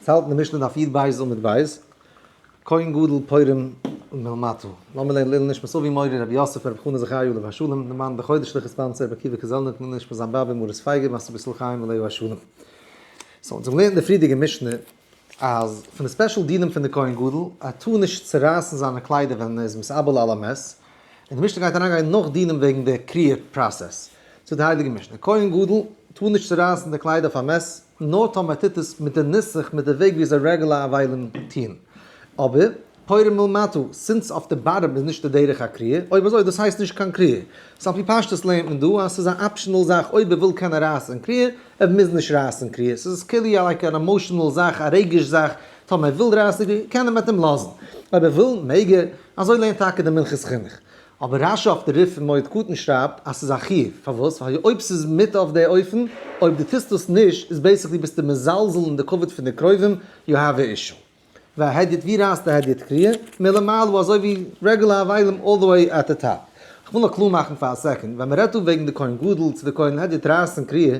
עס האלט אין די משנה דף יד בית עמוד בית, כהן גדול פורים ומהמתו, לאמיר לערנען לעילוי נשמת אבי מורי רבי יוסף רבי חנא זכריה עליו השלום, דערמאנט בחודש שליחות ספאנסער רבי עקיבא קזלניק לעילוי נשמת זיין באבע מרת פייגא מרת רבי ישראל חיים עליו השלום. סאו אונז האבן געלערנט אין די פריערדיגע משנה אז פון די ספעשל דינים פון די כהן גדול ער טאר נישט צורייסן זיינע קליידער ווען ער איז מסאבל על המת, און די משנה גייט אריינגיין נאך דינים וועגן די קריעה פראסעס, זאגט די הייליגע משנה, כהן גדול טאר נישט צורייסן די קליידער אויף א מת, נאר טאמער ער טוט עס מיט די נוסח, מיט די וועג ווי אזוי רעגולאר עווילן טוהן. אבער, פורים מלמטה, סינס אויף די באטעם איז נישט די דרך הקריאה, אויב אזוי דאס הייסט נישט קיין קריאה. סא על פי פשטות לערנט מען דא אז ס'איז א אפשענעל זאך אויב ער וויל קען ער רייסן קריאה, ער מוז נישט רייסן קריאה. ס'איז כאילו לייק אן עמאשענעל זאך, א רגש זאך, טאמער ער וויל רייסן קריאה, קען ער מעט אים לאזן. אויב ער וויל, מעג ער. אזוי לערנט טאקע די מנחת חינוך. אבער רשי אויף די ריף פון מועד קטן שרייבט אז ס'איז א חיוב, פארוואס? ווייל אויב ס'איז מיתה אויף די אופן, אויב די טוסט דאס נישט, איז בעיסיקלי ביסטו מזלזל אין די כבוד פון די קרובים, יו העוו א אישו. והדיוט ווי רייסט די הדיוט קריעה? מלמעלה אזוי ווי רעגולער אבלים אלל דע וועי עט די טאפ. כ'וויל נאר קלאר מאכן פאר א סעקאנד, ווען מ'רעדט דא וועגן די כהן גדול צו די כהן הדיוט רייסן קריעה,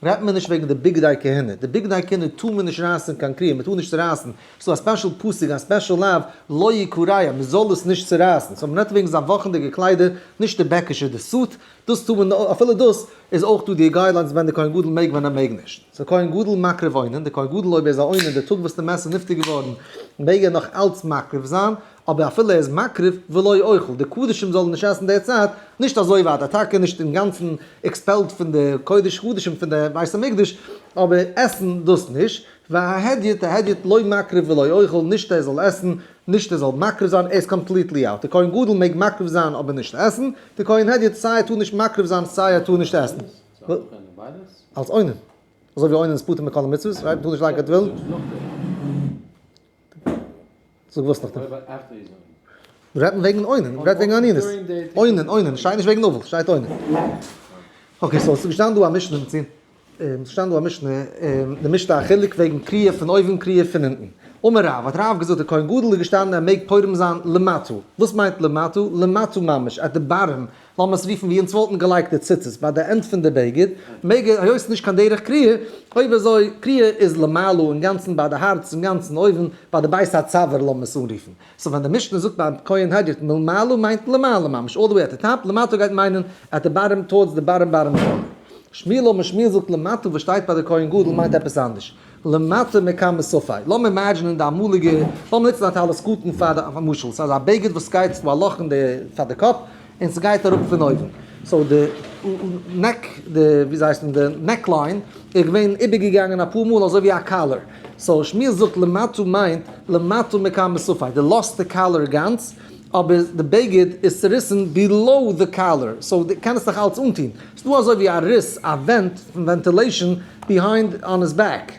רעדט מען נישט וועגן די בגדי כהונה, די בגדי כהונה טאר מען נישט רייסן קיין קריעה, מ'טאר נישט צורייסן ס'דא א ספעשל פסוק, א ספעשל לאו, לא יקוריה, מ'זאל עס נישט צורייסן, סאו מ'רעדט וועגן זיין וואכנדיגע קליידער, נישט די בעקישע, די סוט, דאס טאר מען, אפילו דאס איז אויך דא די גיידליינס ווען די כהן גדול מעג ווען ער מעג נישט. סאו כהן גדול מקריב אוינן, די כהן גדול אויב ער איז א אוינן די טאג וואס די מעסער נפטר געווארן מעג ער נאך אלץ מקריב זיין, אבער אפילו ער איז מקריב, ולא יאכל, די קדשים זאלן נישט עסן די צייט, נישט אזוי ווייט, אטאקע נישט אינגאנצן עקספעלד פון די קודש קדשים פון די בית המקדש, אבער עסן דאס נישט, וההדיוט ההדיוט לא מקריב ולא אוכל, נישט ער זאל עסן, נישט ער זאל מקריב זיין, ער איז קאמפליטלי אוט. דער כהן גדול מעג מקריב זיין אבער נישט עסן, דער כהן הדיוט סיי ער טאר נישט מקריב זיין סיי ער טאר נישט עסן. אלס עונן. אזוי ווי עונן איז פטור מכל המצוות, רייט? מען טאר נישט לייגן קיין טבילן. זאג וואס נאך דעם. מ'רעדט וועגן עונן, מ'רעדט וועגן עניות. עונן, עונן, שטייט נישט וועגן אבל, שטייט עונן. אקעי, סאו ס'איז געשטאנען דא א משנה און ס'איז געשטאנען דא א משנה, און דערמישט א חילוק וועגן קריעה פון אויבן קריעה פון אונטן. אמר רב, האט רב געזאגט, דער כהן גדול איז געשטאנען ער מעג פורים זיין למטה. וואס מיינט למטה? למטה ממש, עט די באטעם לאמיר עס רופן ווי אונז וואלטן געלייגט די ציצית ביי די ענד פון די בגד, מעג ער, היות ס'איז נישט קיין דרך קריעה, אויב אזוי, קריעה איז למעלה אינגאנצן ביי די הארץ אינגאנצן אויבן ביי די בית הצוואר לאמיר עס אנרופן, סאו ווען די משנה זאגט ביים כהן הגר ת מלמעלה מיינט למעלה ממש אלל די וועי עט די טאפ, למטה גייט מיינען עט די באטעם טארדס די באטעם באטעם טאפ. שמילה משמילה זאגט למטה וואס שטייט ביי די כהן גדול מיינט עפעס אנדערש, למטה מכמה סופי, לאמיר אימעדזשענען די אמאליגע, לאמיר נוצן א טעלעסקאופן פאר די משל, סאיז א בגד וואס גייט סאיז דא א לאך אין די פאר די קאפ און סגייט אראפ פון אויבן, סאו די נעק די ווי זיי הייסן די נעק ליין איז געווען איבערגעגאנגען אפאר מאל אזוי ווי א קאלער, סאו שמואל זאגט למטה מיינט למטה מכמה סופי, די לאזט די קאלער גאנץ אבער די בגד איז צוריסן בילאו די קאלער, סאו די קענסט נאך אלץ אנטון, ס'איז דא אזוי ווי א ריס, א ווענט פון ווענטילעישאן ביהיינד אן היז בעק.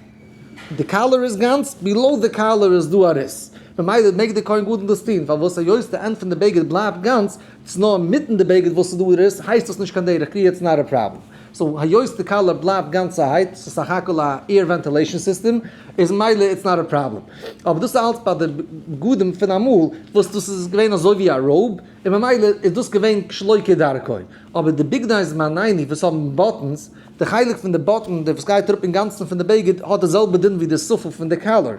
די קאלער איז גאנץ, בילאו די קאלער איז דא א ריס. ממילא מעג די כהן גדול דאס טון, פארוואס היות די ענד פון די בגד בלייבט גאנץ, ס'איז נאר אינמיטן די בגד וואס ס'איז דא ריס, הייסט דאס נישט קיין דרך קריעה איטס נאט א פראבלעם. סאו היות די קאלער בלייבט גאנצעהייט, ס'איז סך הכל א עיר ווענטילעישאן סיסטעם, איז ממילא איטס נאט א פראבלעם. אבער דאס איז אלץ ביי די בגדים פון אמאל, וואס דאס איז געווען אזוי ווי א ראוב, און ממילא איז דאס געווען שלא כדרכו. אבער די בגדי איז מעניני וואס האבן באטענס, די חלק פון די באטען די וואס גייט אראפ אינגאנצן פון די בגד האט די זעלבע דין ווי די ספל פון די קאלער,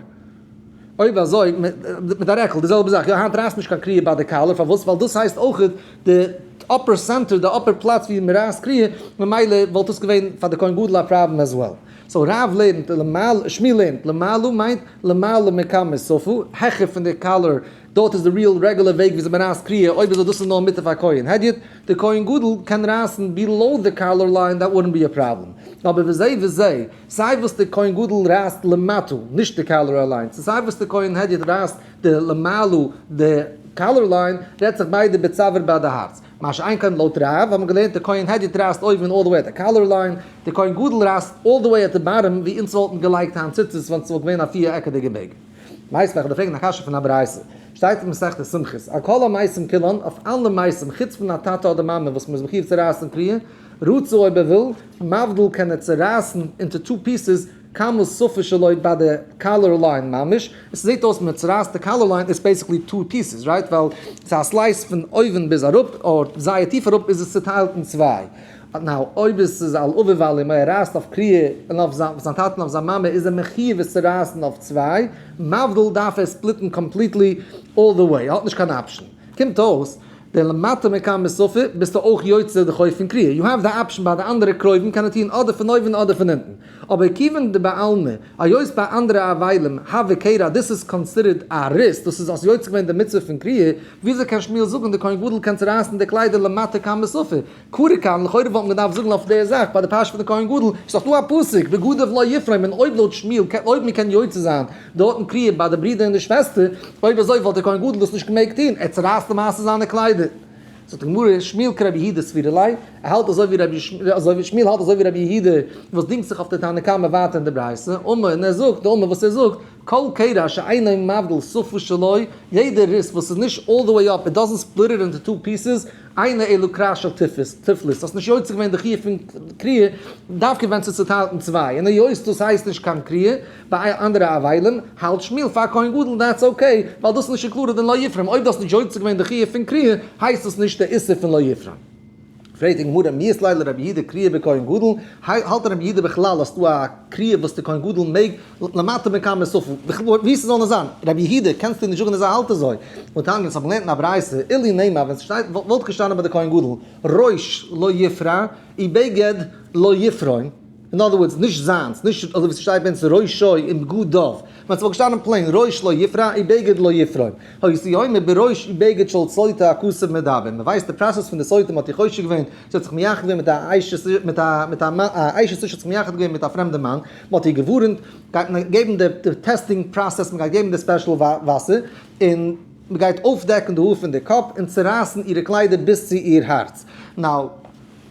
אויב אזוי מיט א רעקל די זעלבע זאך, יא היינט רייסט נישט קיין קריעה ביי די קאלער פארוואס ווייל דאס הייסט אויך די אפער סענטער די אפער פלאץ ווי מ'רייסט קריעה ממילא וואלט עס געווען פאר די כהן גדול א פראבלעם עז וועל, סאו רב לערנט למעלה שמי לערנט למעלה מיינט למעלה מכמה ספל העכער פון די קאלער דארט איז די ריעל רעגולער וועג וויאזוי מען רייסט קריעה, אויב איז דאס איז נאר מיתה פאר כהן הדיוט, די כהן גדול קען רייסן בילאו די קאלער ליין דעט וואלדנט בי א פראבלעם, אבער וויאזוי וויאזוי סיי וואס די כהן גדול רייסט למטה נישט די קאלער אליינס און סיי וואס די כהן הדיוט רייסט די למעלה די קאלער ליין רעדט זיך ביידע בצוואר ביי די הארץ, מה שאין כן לויט רב האט מען געלערנט די כהן הדיוט רייסט אויבן אלל דע וועי עט די קאלער ליין, די כהן גדול רייסט אלל דע וועי עט די באטעם ווי אונז וואלטן געלייגט היינט ציצית ווען ס'וואלט געווען א פיר עקעדיגע בעג. ווייסט וועלכע די פרעגן א קשיא פון א ברייתא שטייט אין מסכת סמכות על כל המעשים כולם אויף אלע מעשים חוץ פון א טאטע אדער מאמע וואס מ'איז מחיוב צו רייסן פרי רצו אויב ער וויל מבדל קען ער צורייסן אינטו טו פיסעס כמה סופר שלא ביי די קאלער ליין ממש עס זעט אויס מען צורייסט די קאלער ליין איז בעסיקלי טו פיסעס רייט ווייל ס'איז א סלייס פון אויבן ביז אראפ אויב זייער טיף אראפ איז עס צוטיילט אין צוויי. באט נאו, אויב עס איז על אביו ועל אמו, ער רייסט אויף קריעה און אויף זיין טאטען אויף זיין מאמע, איז ער מחיוב עס צו רייסען אויף צוויי, מבדל דארף ער ספליטען קאמפליטלי אלל דע וועי, ער האט נישט קיין אפשען. קומט אויס דער למטה מכאן מסופה ביסטו אויך יוצא די חוב פון קריעה, יו העוו די אפשען ביי די אנדערע קרובים קען ער טוהן אדער פון אויבען אדער פון אונטען, אבער כיוון דבעלמא היות ביי אנדערע אבילים הא וקרא דאס איז קאנסידערט א ריס, דאס איז אויס יוצא געווען די מצוה פון קריעה, וויאזוי קען שמואל זאגען דער כהן גדול קען צורייסען די קליידער למטה כאן מסופה, קורא כאן, לכאורה וואלט מען געדארפט זאגן אויף די זאך ביי די פרשה פון די כהן גדול, ס'איז דאך דא א פסוק בגדיו לא יפרום, און אויב לויט שמואל קען אויב מען קען יוצא זיין די הוט און קריעה ביי די ברודער און די שוועסטער, אויב אזוי וואלט דער כהן גדול דאס נישט געמעגט טון, ער צערייסט למעשה זיינע קליידער. זאגט די גמרא, שמואל כרבי יהודה סבירלי, ער האלט אזוי ווי רבי אזוי שמואל האלט אזוי ווי רבי יהודה וואס דינגט זיך אויף די תנא קמא ווייטער אין די ברייתא, אמה און ער זאגט, די אמה וואס ער זאגט, כל קרע שאינו מבדיל סופו שלו, יעדע ריס וואס איז נישט אלל די וועי אפ, איט דאזענט ספליט איט אינטו טו פיסעס, איינע אלו קרא של תפלות, תפלות, האסט נישט יוצא געווען די חיוב פון קריאה, דווקא ווען ס'איז צוטיילט אין צוויי, און היות דאס הייסט נישט קיין קריאה, ביי אנדערע אבלים, האלט שמואל פאר א כהן גדול און דעטס אקעי, ווייל דאס איז נישט אינקלודעד אין לא יפרום, אויב דו האסט נישט יוצא געווען די חיוב פון קריאה, הייסט דאס נישט די איסור פון לא יפרום. פרעגט די גמרא, מי איסלאי לרבי יהודה קריאה בכהן גדול, האלט רבי יהודה בכלל אז ס'דא א קריאה וואס די כהן גדול מעג למטה מכמה ספים, ווי ס'זאל נאר זיין, ר' יהודה קענסטו נישט זאגן אז ער האלט אזוי, און טענה'ן אז כ'האב געלערנט אין א ברייתא, אילי נעימה ווען ס'שטייט וואלט געשטאנען ביי די כהן גדול, ראש לא יפרע און בגד לא יפרום, אין אדער ווארדס, נישט זיינס, נישט אזוי ווי ס'שטייט ביי אונז ראשו און בגדיו, ווען ס'וואלט געשטאנען פלעין ראש לא יפרע און בגד לא יפרום, היו סיומה בראש ובגד של סוטה הכסף מדבר, מ'ווייסט די פראסעס פון די סוטה מ'האט איר חושד געווען, זי האט זיך מייחד געווען מיט א אשת איש האט זיך מייחד געווען מיט א פרעמדע מאן, מען האט איר געווארענט, גייט מען געבן די טעסטינג פראסעס, מען גייט געבן די ספעשל וואסער, און מען גייט אויפדעקן די האר פון די קאפ, און צורייסן אירע קליידער ביז צו איר הארץ. נאו,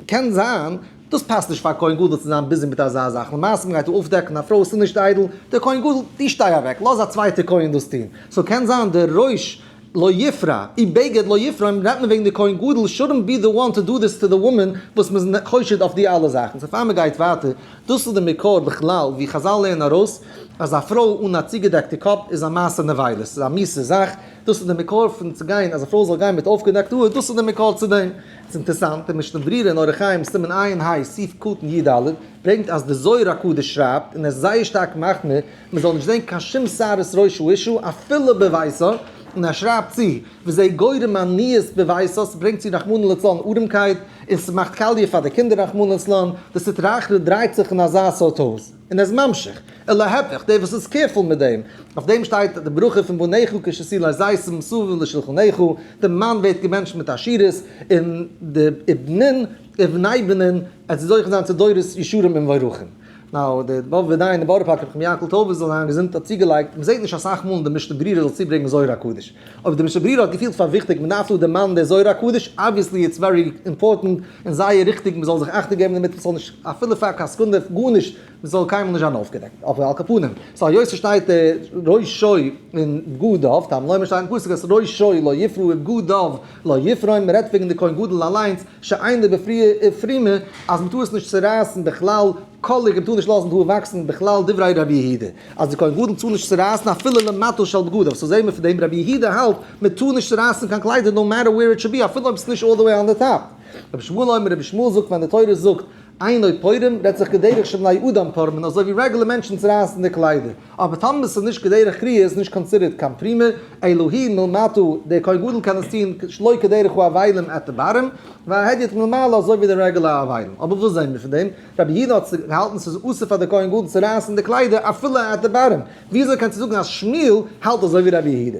קען זיין, דאס פאסט נישט פאר א כהן גדול צו זיין ביזי מיט אזא זאך, למעשה מען גייט דא אויפדעקן א פרוי, עס איז נישט איידל, דער כהן גדול, דו שטיי אוועק, לאז א צווייטע כהן דאס טון. סאו קען זיין די ראש לא יפרע, אי בגד לא יפרע, און רעדט מען וועגן די כהן גדול shouldn't be the one to do this to the woman וואס מ'איז חושד אויף די אלע זאכן. סאו פאר מ'גייט ווייטער, דאס איז די מקור בכלל ווי חזל לערנען ארויס אז א פרוי אן א צוגעדעקטע קאפ איז א מעשה נבילות, ס'איז א מיסע זאך, דאס איז די מקור פון צו גיין אז א פרוי זאל גיין מיט אויפגעדעקט האר, דאס איז די מקור צו דעם. ס'איז אינטערסאנט, אין משנה ברירה אין אורח חיים סימן עיין ה, סעיף קטן י ד, ברענגט אז די זוהר הקדוש שרייבט, און ער איז זייער שטארק מחמיר, מען זאל נישט זען קיין שום שערות ראש האישה אפילו בביתו, און ער שרייבט צו, וזה גורם עניות בביתו, ס'ברענגט צו רחמנא לצלן ארעמקייט, און ס'מאכט קאליע פאר די קינדער רחמנא לצלן, די סטרא אחרא דרייט זיך אין אזא סארט הויז, און איז ממשיך, און להיפך, דער וואס איז קעירפול מיט דעם, אויף דעם שטייט די ברכה פון בניך כשסילי זית מסביב לשולחניך, די מאן ווערט געבענטשט מיט עשירות, און די בנין ובני בנין, עס זוכה זיין צו דורות ישרים ומבורכים. נאו, די בב ודי אין די בארא פארקער נחום יענקל טויבער זאל זיין געזונט האט צוגעלייגט, מען זעט נישט אסאך מאל אין די משנה ברירה זאל צובריגן זוהר הקדוש. אויב די משנה ברירה האט געפילט פאר וויכטיג מען דארף דא דערמאנען די זוהר הקדוש, אבוויעסלי איטס ווערי אימפארטענט און זייער ריכטיג מען זאל זיך אכטונג געבן דערמיט מען זאל נישט אפילו פאר קיין סעקונדע גארנישט מען זאל קיינמאל נישט זיין אויפגעדעקט, אבער על כל פנים, סא היות ס'שטייט ראשו און בגדיו, טאמער לאמיר שטייט אין פסוק אז ראשו לא יפרע ובגדיו לא יפרעון, מען רעדט וועגן די כהן גדול אליינס, שיין די בפרימע אז מען טאר עס נישט צורייסן בכלל, קאליג און טאר נישט לאזן האר וואקסן בכלל דברי רבי יהודה אז די כהן גדול טאר נישט צורייסן אפילו למטה של בגדיו, סאו זעהן מיר פון דעם רבי יהודה האלט מען טאר נישט צורייסן קיין קליידער נאו מעטער וועיר איט שוד בי אפילו אויב עס איז נישט אלל דע וועי אן די טאפ. רבי שמואל אומר רבי שמואל זאגט ווען די תורה זאגט עיני פורים רעדט זיך כדרך שבני אדם פורמין אזוי ווי רעגולער מענטשן צורייסן די קליידער. אבער טאמער ס'איז נישט כדרך קריאה איז נישט קאנסידערט קיין פרימע, אלא היא מלמטה, דער כהן גדול קען עס טון שלא כדרך האבלים את איברים, וההדיוט מלמעלה אזוי ווי די רעגולע האבלים. אבער וואס זעהן מיר פון דעם? רבי יהודה האט געהאלטן ס'איז אסור פאר די כהן גדול צו רייסן די קליידער אפילו את איברים, וויאזוי קענסטו זאגן אז שמואל האלט אזוי ווי רבי יהודה?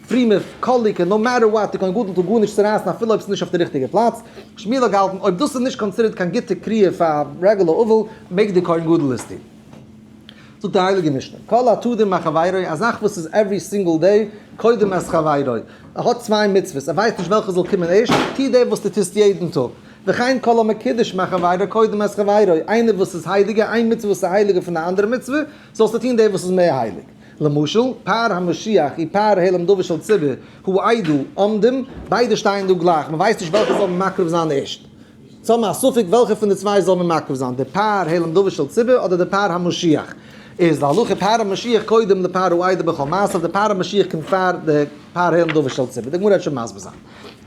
פרומע קאליקע, נאו מעטער וואט, איז קיין גדול טאל גארנישט צו רייסן אפילו אויב ס'איז נישט אויף די ריכטיגע פלאץ. שמואל האט געהאלטן אויב דאס איז נישט קאנסידערט קיין גוטע קריאה פאר א רעגולער אבל, מעג די כהן גדול עס טון. זאגט די הייליגע משנה, כל התודים מה חברו, א זאך וואס איז עווערי סינגל דעי, קודם את חברו. ער האט צוויי מצוות, ער ווייסט נישט וועלכע זאל קומען ערשט, טו דעי וואס דו טוסט יעדן טאג. וכן כל המקידש מה חברו, קודם את חברו. איינער וואס איז הייליגער, איין מצוה וואס איז הייליגער פון א אנדערע מצוה, זאלסטו טון דעי וואס איז מער הייליג. למשל, פאר המשיח און פאר העלם דבר של ציבור הוא איידל עומדים, ביידע שטייען דא גלייך, מען ווייסט נישט וועלכע זאל מען מקריב זיין ערשט. זיי האבן א ספק וועלכע פון די צוויי זאל מען מקריב זיין, די פאר העלם דבר של ציבור אדער די פאר המשיח. איז להלכה פאר המשיח קודם לפאר הוא איידל בכל מעשיו, די פאר המשיח קומט פאר די פאר העלם דבר של ציבור, די גמרא וועט שוין מסביר זיין.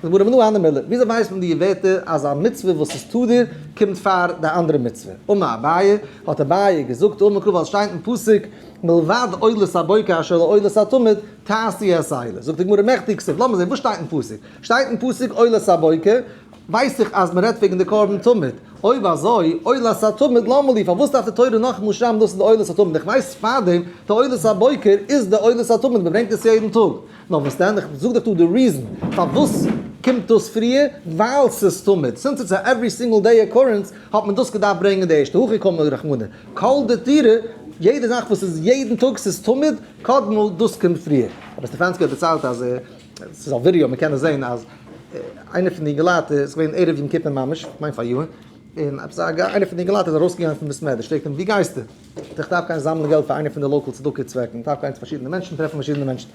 זאגט הגמרא מנא אנא מילתא, וויאזוי ווייסט מען די ווערטער אז א מצוה וואס איז תדיר קומט פאר די אנדערע מצוה? אמר אביי, האט אביי געזאגט, אמר קרא ווייל עס שטיינט אין פסוק מלבד עולת הבוקר אשר לעולת התמיד תעשי את העילה. זאגט הגמרא מעכטיג כסוף, לאמיר זען וואס שטייט אין פסוק, שטייט אין פסוק עולת הבוקר, ווייס איך אז מען רעדט וועגן די קרבן תמיד, אויב אזוי עולת התמיד למה לי, פארוואס דארף די תורה נאכאמאל שרייבן דאס איז די עולת התמיד, איך ווייס פארדעם די עולת הבוקר איז די עולת התמיד, מען ברענגט עס יעדן טאג. נאר וואס דען? איך זאג דיך דא די ריזען פארוואס קומט דאס פריער, ווייל ס'איז תמיד, סינס איטס א עוורי סינגעל דעי אקורענס, האט מען דאס געדארפט ברענגען די ערשטע, הכי קל מיט רחמנא, כל דתירא, יעדע זאך וואס איז יעדן טאג, ס'איז תמיד, קדמו, דאס קומט פריער. רבי סטעפאנסקי האט דערציילט אז ער, ס'איז אויף ווידעא, מ'קען עס זען, אז איינער פון די אינגעלייט, ס'איז געווען ערב יום כיפור ממש, כ'מיין פאר יארן, און עפעס א, איינער פון די אינגעלייט איז ארויסגעגאנגען פון בית מדרש, פרעגט אים וואו גייסטו? איך דארף גיין זאמלען געלט פאר איינע פון די לאקעל צדקה צוועקן, איך דארף גיין צו פארשידענע מענטשן און טרעפן פארשידענע מענטשן.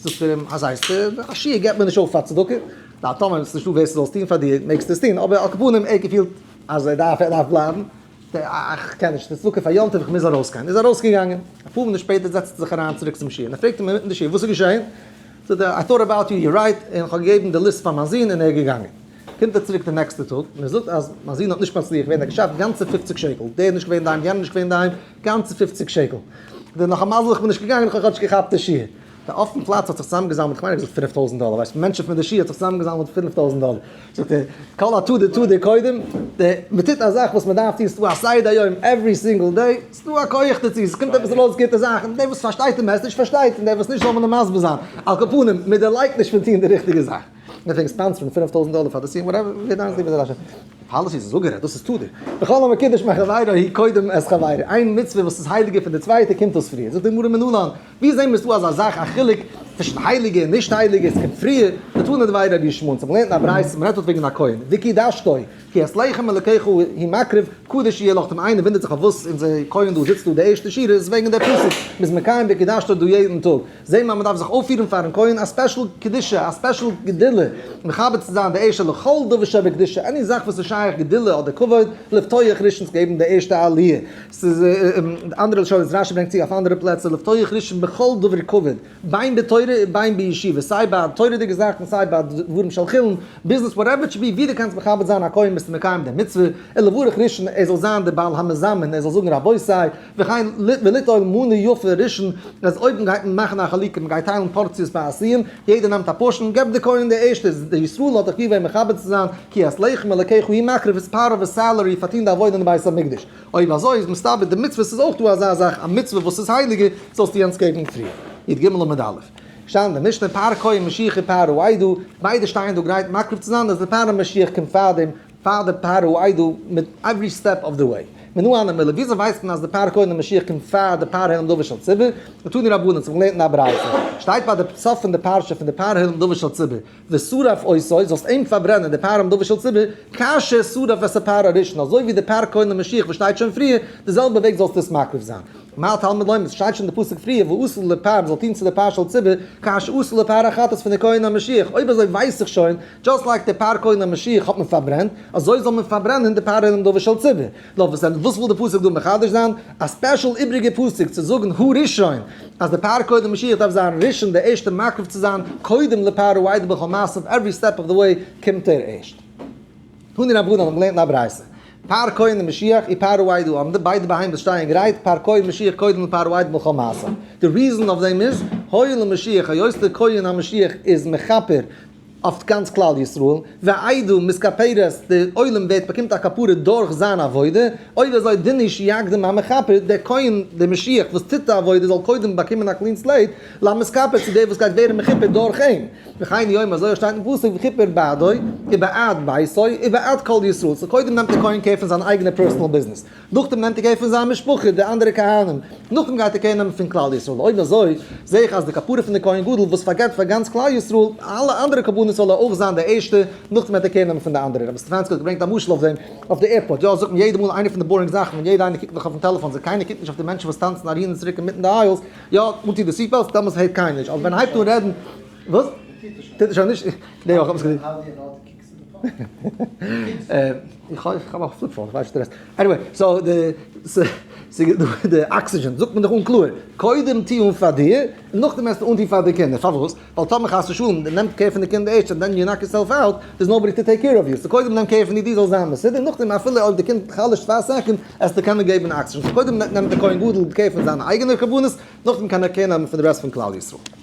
זאגט ער אים, אז הייסט, א שיעור געבט מען נישט אויף פאר צדקה, די טעמע איז נישטא ווער ס'זאל עס טון פאר דיר, מעגסט עס טון, אבער על כל פנים ער געפילט אז ער דארף ער דארף בלייבן, איך קען נישט, ס'איז צדקה פאר יום טוב, איך מוז ארויס גיין, איז ארויסגעגאנגען, אפאר מינוט שפעטער זעצט ער זיך אריין צוריק צום שיעור, מען פרעגט אים אינמיטן די שיעור וואס איז געשען, זאגט ער, איי טאוט אבאוט יו, יו אר רייט, און איך האב געגעבן די ליסט פאר מיין זון און ער איז געגאנגען. קומט ער צוריק די נעקסטע טאג און ער זאגט אז מיין זון האט נישט מצליח געווען ער האט געשאפט גאנצע פופציג שקל דער איז נישט געווען אינדערהיים יענער איז נישט געווען אינדערהיים גאנצע פופציג שקל די נאך א מזל איך בין נישט געגאנגען איך האב כאטש געכאפט די שיעור די אויפן פלאץ האט זיך צוזאמגעזאמלט כ'מיין ער האט געזאגט פינף טויזנט דאלער ווייסט מענטשן פון די שיעור האט זיך צוזאמגעזאמלט פינף טויזנט דאלער זאגט ער כל הטוב די טוב די קודם די מ'טוט א זאך וואס מ'דארף טון ס'דא א סדר יום עווערי סינגל דעי ס'דא א כח דערצו ס'קומט עפעס ארויס גוטע זאכן דער וואס פארשטייט די מעסעדזש פארשטייט און דער וואס נישט זאל מען אים מסביר זיין על כל פנים מ'דערלייגט נישט פון טון די ריכטיגע זאך. און עפענגס טאנץ פון פֿינף טויזנט דאלער פאר די סיום וואטעווער ווי דיין סיבה איז אזאלעכע פאליסיס איז אפגערעדט דאס איז תו די וכל המקדש מעל חברו הי' קודם את חברו איין מצוה וואס איז הייליגער פון די צווייטע קומט אויס פריער זאגט די גמרא מנלן ווי זעהן מיר ס'דא אזא זאך א חילוק צווישן הייליגע און נישט הייליגע עס קומט פריער די תנא דבי רבי שמעון צו מ'לערנט א ברייתא מ'רעדט דארט וועגן א כהן וקידשתו כי את לחם אלקיך הוא מקריב קדוש יהיה לך די איינער וואונדערט זיך פארוואס אונזער כהן דא זיצט דא די ערשטע שיעור איז וועגן די פסוק מ'איז מקיים וקידשתו דא יעדן טאג זעהן מיר אז מ'דארף זיך אויפפירן פארן כהן א ספעשל קדושה, א ספעשל גדולה, מכבד צו זיין די ערשטע לכל דבר שבקדושה, עני זאך וואס איז שייך גדולה אדער כבוד, לפתוח ראשון צו געבן די ערשטע עליה, ס'איז די אנדערע לשון וואס רשי ברענגט צו אויף אנדערע פלעצער, לפתוח ראשון בכל דבר כבוד, בין בתורה און בין בישיבה, סיי ביי תורה'דיגע זאכן סיי ביי דברים של חולין, ביזנעס וואטעווער איט שוד בי, ווי דו קענסט מכבד זיין א כהן ביסטו מקיים די מצוה, און לברך ראשון ער זאל זיין די בעל המזמין ער זאל זאגן רבותי, וכן וליטול מנה יפה ראשון, אז אויב מ'גייט מען מאכן א חלוקה, מ'גייט טיילן פארציעס פאר א סיום, יעדער נעמט א פארשען, געב די כהן די ערשטע, די ישראל האט דאך געווען מכבד צו זיין, כי את לחם אלקיך הוא מקריב איז פארט אוו היז סעלערי פאר טוהן די עבודה אין די בית המקדש, אויב אזוי איז מסתבר די מצוות איז אויך דא אזא זאך, א מצוה וואס איז הייליגער זאלסטו יענץ געבן פריער. י ג עמוד א', שטייט אין די משנה פאר כהן משיחי פאר ר' עדו, ביידע שטייען דא גרייט מקריב צו זיין, אז די פאר די משיח קומט פארדעם, פאר די פאר ר' איידל מיט עווערי סטעפ אוו די וועי. מנא אנא מילא, וויאזוי ווייסט מען אז די פאר כהנים משיח קומט פאר די פאר העולם דבר של ציבור? נתנו לי רבנן, ס'האב איך געלערנט אין א ברייתא, שטייט ביי די סוף פון די פרשה פון די פאר העולם דבר של ציבור, ושרף עשו, זאלסט אים פארברענען, די פאר העולם דבר של ציבור, כאשר שרף את הפר הראשון, אזוי ווי די פאר כהנים משיח וואס שטייט שוין פריער, די זעלבע וועג זאלסטו עס מקריב זיין. מה התלמוד לומד, עס שטייט שוין אין די פסוק פריער, ועשו לפר, מען זאל טון צו די פאר של ציבור, כאשר עשו לפר החטאת פון די כהן המשיח, אויב אזוי ווייס איך שוין, דזשאסט לייק די פאר כהנים משיח האט מען פארברענט, אזוי זאל מען פארברענען די פאר עולם דבר של ציבור. נאר וואס דען, וואס וויל די פסוק דא מחדש זיין? א ספעשל איבריגע פסוק צו זאגן הוא ראשון, אז די פאר כהנים משיח דארף זיין ראשון די ערשטע מקריב צו זיין קודם לפאר הוא עיד בכל מעשיו עווערי סטעפ אוו די וועי קומט ער ערשט. תני רבנן האבן געלערנט אין א ברייתא, פאר כהנים משיח אי פאר הוא עיד הוא עמדה, ביידע בהמות שטייען גרייט, פאר כהן משיח קודם לפאר הוא עיד בכל מעשיו. די ריזען אויף דעם איז, הואיל ומשיח היות די כהן המשיח איז מכפר, אויף גאנץ כלל ישראל, והעדה מסכפרת, די עולם ווערט באקומט א כפרה דורך זיין עבודה, אויב אזוי דן איש יקדים המכפר, דער כהן דער משיח וואס טוט די עבודה זאל קודם באקומען א קלין סלעיט, למסכפר צו דער וואס גייט ווערן מכופר דורך אים, וכן יאמר אזוי שטייט אין פסוק וכפר בעדו ובעד ביתו ובעד כל ישראל, סאו קודם נעמט דער כהן קער פון זיין אייגענע פערסענעל ביזנעס, נאכדעם נעמט ער קער פון זיין משפחה, די אנדערע כהנים, נאכדעם גייט ער קער נעמען פון כלל ישראל, אויב אזוי זעה איך אז די כפרה פון די כהן גדול וואס פארגעט פאר גאנץ כלל ישראל אלע אנדערע קרבנות זאל ער אויך זיין די ערשטע, נאכדעם וועט ער קער נעמען פון די אנדערע. רבי סטעפאנסקי האט געברענגט א משל אויף דעם, אויף די עירפארט, יא, זאגט מיר יעדע מאל איינע פון די באורינג זאכן ווען יעדע איינער קוקט נאך אויפן טעלעפאן זיי קיינער קוקט נישט אויף די מענטשן וואס טאנצן אהין און צוריק אינמיטן די איילס, יא, אנטוהן די סיט בעלטס, דעמאלטס הערט קיינער נישט, אבער ווען ער הייבט אן רעדן, וואס? טוט ער שוין נישט? איך האב א פליפ פאון, איך ווייס נישט די רעסט. עניוועי, סאו די אקסיגען זאגט מען דאך אן קלאר, קודם טוה אן פאר דיר, און נאכדעם העסטו אנטוהן פאר די קינדער. פארוואס? ווייל טאמער חס ושלום די נעמט קער פון די קינדער ערשט אנד דען יו נאק יור סעלף אוט, דער'ס נאובאדי טו טעיק קער אוו יו. סאו קודם נעם קער פון דיר, דו זאלסט זיין מסודר, און נאכדעם אפילו אויב די קינד חלש'ט פאר א סעקאנד, עסטו קענען געבן אקסיגען. סאו קודם נעמט די כהן גדול קער פון זיינע אייגענע קרבנות, נאכדעם קען ער קער נעמען פון די רעסט פון כלל ישראל.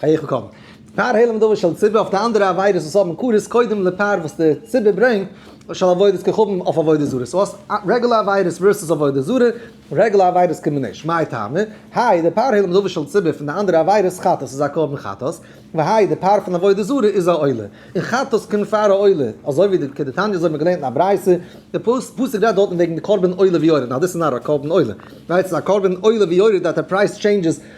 חייך קודם פאר העלם דבר של ציבור אויף די אנדערע עבירות וואס האבן מקורות קודם לפאר וואס די ציבור ברענגט של עבודת כוכבים אויף עבודה זרה סאו האסט רעגולער עבירות ווערסעס עבודה זרה רעגולער עבירות קומען נישט מאי טעמא האי די פאר העלם דבר של ציבור פון די אנדערע עבירות חטאת איז א קרבן חטאת והאי די פאר פון עבודה זרה איז א עולה און חטאת קומט פאר א עולה אזוי ווי די כדתניא אזוי האבן מיר געלערנט אין א ברייתא די פסוק רעדט דארטן וועגן די קרבן עולה ויורד נאר דאס איז נאר א קרבן עולה ווייל עס איז א קרבן עולה ויורד דעט די פרייז טשעינדזשעס.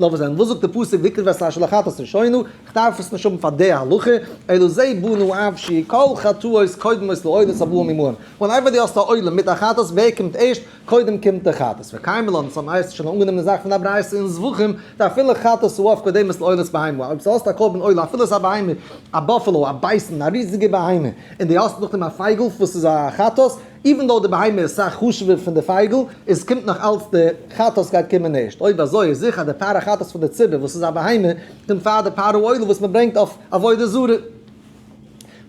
לאמיר זען וואס זאגט די פסוק ויקרב את ה' לחטאת ראשינו, איך דארף עס נישט האבן פאר די הלכה, אלא זה בנו אבשי, כל חטאות קודמות לעולת הבא ממעון, און אויב די האסט א עולם מיט א חטאת ווער קומט ערשט, קודם קומט די חטאת, וקיימא לן, סא מהר ס האט שוין אנגענומען די זאך פון א ברייתא אין זבחים, דאפילו חטאת הוא אף קודמת לעולת בהמה, אויב ס'האסט א קרבן עולה אפילו ס'איז א בהמה, א באפעלא, א בייסן, א ריזיגע בהמה, און די האסט נאכדעם א פייגל וואס איז א חטאת, איווען דאו די בהמה איז סאך חשוב'ער פון די פייגל, איז קומט נאך אלץ די חטאת גייט קומען ערשט, אויב אזוי איז זיכער אז די פארא חטאת פון די ציבור וואס איז א בהמה, קומט פאר די פארא עולה וואס מען ברענגט אויף עבודה זרה.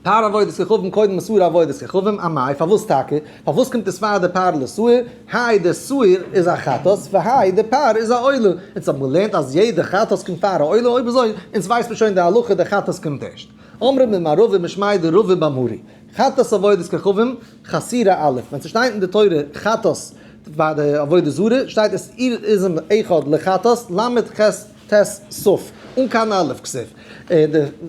פאר עבודת כוכבים קודם מסורה עבודת כוכבים, א מאי, פארוואס טאקע? פארוואס קומט עס פאר די פאר לסוער? האי די סוער איז א חטאת, והאי די פאר איז א עולה, אונז האבן געלערנט אז יעדע חטאת קומט פאר א עולה, אויב אזוי אונז ווייסט מען שוין די הלכה די חטאת קומט ערשט. אמרי ממערבי משמעי די רבי באמרי, חטאת עבודת כוכבים, חסירה א', ווען ס'שטייט אין די תורה חטאת ביי די עבודה זרה, שטייט עס איר איזם אחד לחטאת, ל' חס ט סוף, אן קיין א' כסוף.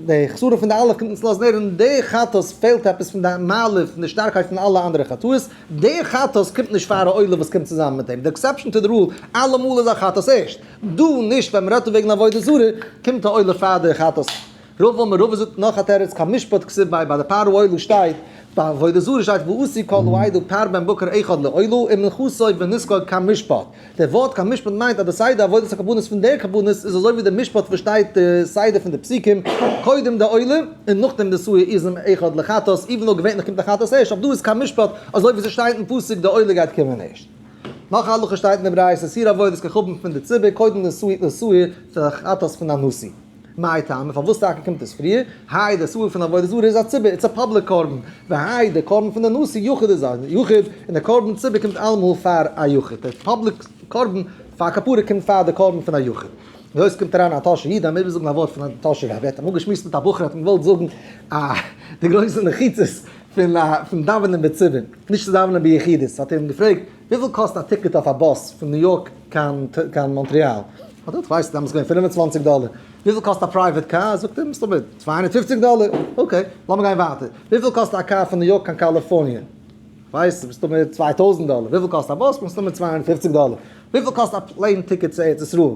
די חסרון פון די א' קומט אונז לאזן הערן די חטאת פעלט עפעס פון די מעלה פון די שטארקייט פון אלע אנדערע חטאות, די חטאת קומט נישט פאר א עולה וואס קומט צוזאמען מיט אים, די עקסעפשאן טו די רול, אלעמאל איז א חטאת ערשט, דא נישט ווען מ'רעדט וועגן עבודה זרה קומט א עולה פאר די חטאת. רוב אמר רבא זאגט נאך א תירוץ קיין משפט כסוף ביי ביי די פאר אוהלו שטייט ביי עבודה זרה שטייט ועשי כל העדה פר בן בקר אחד לאוהלו און מנכסו ונזקו קיין משפט די ווארט קיין משפט מיינט אז די סדר עבודת הקרבנות פון די קרבנות איז אזוי ווי די משפט וואס שטייט די סדר פון די פסוקים קודם די עולה און נאכדעם די סוה איז עם אחד לחטאת איווען דאו געווענטליך קומט די חטאת ערשט אבער דא איז קיין משפט אזוי ווי ס'שטייט אין פסוק די עולה גייט קומען ערשט. נאך א הלכה שטייט אין די ברייתא סיר עבודת כחבן פון די ציבור קודם די סוה די סוה פון די חטאת פון א נשיא. מאי טעמא, פארוואס טאקע קומט עס פריער? האי די סארט פון עבודה זרה איז א ציבור, איטס א פאבליק קרבן, והאי די קרבן פון די נשיא יחיד איז א יחיד, און די קרבן ציבור קומט אלעמאל פאר א יחיד, די פאבליק קרבן פאר כפרה קומט פאר די קרבן פון א יחיד. ווי אויך קומט אריין א טאהשע איד, אז מען וויל זאגן א ווארט פון א טאהשע רב, ער האט אמאל געשמועסט מיט א בחור האט אים געוואלט זאגן א די גרויסע נחיצות פון דאווענען בציבור, נישט צו דאווענען ביחידות, האט ער אים געפרעגט, וויפיל קאסט א טיקעט אויף א באס פון ניו יארק קיין מאנטריאל? האט ער געזאגט כ'ווייס נישט, דעמאלטס איז געווען פֿינף און צוואַנציק דאלער. וויפיל קאסט א פרייוועט קאר? זאגט ער מסתמא צוויי הונדערט פֿופֿציק דאלער. אקעי, לאמיר גיין ווייטער. וויפיל קאסט א קאר פון ניו יארק קיין קאליפארניע? כ'ווייס נישט, מסתמא צוויי טויזנט דאלער. וויפיל קאסט א באס? מסתמא צוויי הונדערט פֿופֿציק דאלער. וויפיל קאסט א פלעין טיקעט צו ארץ ישראל?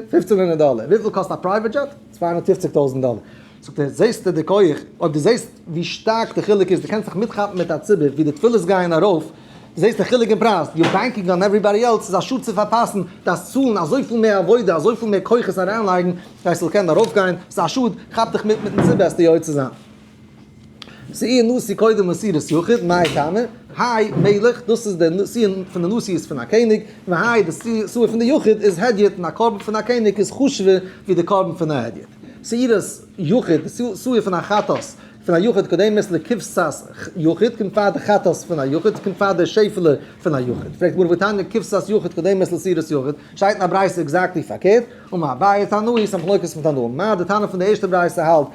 פֿופֿצן הונדערט דאלער. וויפיל קאסט א פרייוועט דזשעט? צוויי הונדערט פֿופֿציק טויזנט דאלער. זאגט ער, זעסטו די כח? אויב דו זעסט ווי שטארק די חילוק איז, דו קענסט זיך מיטכאפן מיט א ציבור ווי די תפילות גייען ארויף, דו זעסט די חילוק אין פרייז, יו בענקינג אן עווריבאדי עלס, ס'איז א שאד צו פארפאסן, דארפסט צאלן אזויפיל מער עבודה, אזויפיל מער כוחות אריינלייגן, כדי ס'זאל קענען ארויפגיין, ס'איז א שאד, כאפ דיך מיט מיטן ציבור העסטו יוצא זיין. ס'איז איר נשיא קודם מסירת יחיד, מאי טעמא? האי מלך, דאס איז די נשיא פון די נשיא איז פון א קעניג, והאי די נשיא פון די יחיד איז הדיוט און א קרבן פון א קעניג איז חשוב'ער ווי די קרבן פון א הדיוט. מסירת יחיד, די נשיא פון א חטאת פון א יחיד קודמת לכבשת יחיד, קומט פאר די חטאת פון א יחיד, ס'קומט פאר די שעפעלע פון א יחיד. פרעגט גמרא ותניא כבשת יחיד קודמת לסירת יחיד, שטייט אין א ברייתא עקזעקטלי פארקערט, ומאביי תנאי איז א מחלוקת פון תנאים, מאי די טענה פון די ערשטע ברייתא האלט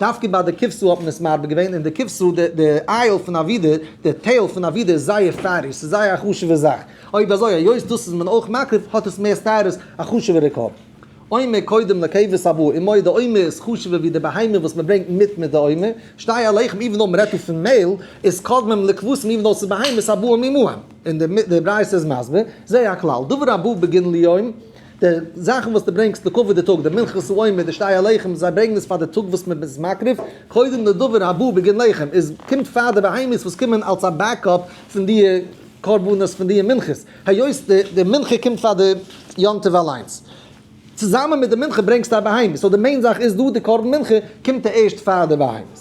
דווקא ביי די כבשה האט מען עס מרבה געווען, און די כבשה, די די אייעל פון א ווידער, די טעיל פון א ווידער איז זייער פייערדיג, ס'איז זייער א חשוב'ע זאך, אויב אזוי היות דאס איז מען אויך מקריב, האט עס מער סתירות, א חשוב'ערע קו. עומר קודם לכבש הבא, און מויד די עומר איז חשוב'ער ווי די בהמה וואס מען ברענגט מיט מיט די עומר, שתיה לחם איבן דאו מ'רעדט דא פון מעהל, איז קודמים לכבשים איבן דאו ס'איז בהמות הבאים עמהם, און די ברייתא איז מסביר, זה הכלל, דבר הבא בגין ליום, די זאכן וואס דו ברענגסט לקברי די טאג, די מנחה סעודה, די שתי הלחם, זיי ברענגן עס פאר די טאג וואס מען איז מקריב, קודם לדבר הבא בגין לחם, איז קומט פאר די בהמות וואס קומען אלס א בעקאפ פון די קרבנות פון די מנחות, היות די די מנחה קומט פאר די יום טוב אליינס. צוזאמען מיט די מנחה ברענגסטו א בהמה, סאו די מעין זאך איז דא די קרבן מנחה קומט ערשט פאר די בהמות.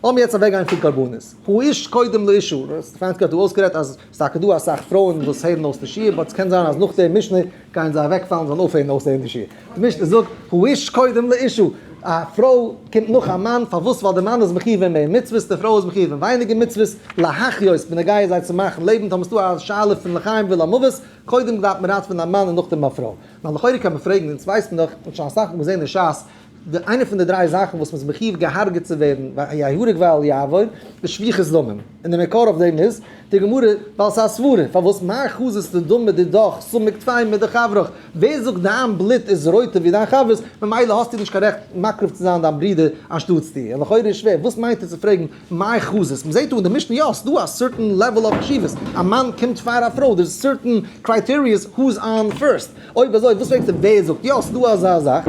לאמיר יעצט אוועק גיין פון קרבנות. הוא איש קודם לאישו, פריינד קרעכט דא אויסגערעדט אז ס'איז טאקע דא אסאך פרויען וואס הערן אויס די שיעור, באט ס'קען זיין אז נאך די משנה גייען זיי אוועקפאלן, זאלן אויפהערן אויסהערן די שיעור. די משנה זאגט, הוא איש קודם לאישו, א פרוי קומט נאך א מאן, פארוואס? ווייל די מאן איז מחיוב אין מער מצוות, די פרוי איז מחיוב אין ווייניגער מצוות, להחיות, בנוגע זיי צו מאכן לעבן, טאמער ס'דא א שאלה פון לחיים ולמוות, קודם דארף מען ראטווען א מאן און נאכדעם א פרוי. נאר לכאורה קען מען פרעגן, אונז ווייסן דאך, און שוין אסאך מאל געזען אין שס, די איינע פון די דריי זאכן וואס מ'איז מחיוב געהארגעט צו ווערן ויהרג ואל יעבור איז שפיכות דמים, און די מקור אויף דעם איז די גמרא ווייל ס'איז א סברה פארוואס מה חזית לדון בדידך סומק טפי מידי חברך, ווער זאגט דיין בלוט איז רויטער ווי דיין חבר'ס ממילא האסטו נישט קיין רעכט מקריב צו זיין דיין ברודער אנשטאטס דיר, און לכאורה איז שווער וואס מיינט ער צו פרעגן מה חזית, מ'זעט דא אין די משנה יא ס'איז דא א סערטען לעוועל אוו חשיבות, א מאן קומט פאר א פרוי דער איז סערטען קרייטעריעס הו'ז אן פירסט. אויב אזוי וואס פרעגסטו ווער זאגט יא ס'איז דא אזא זאך?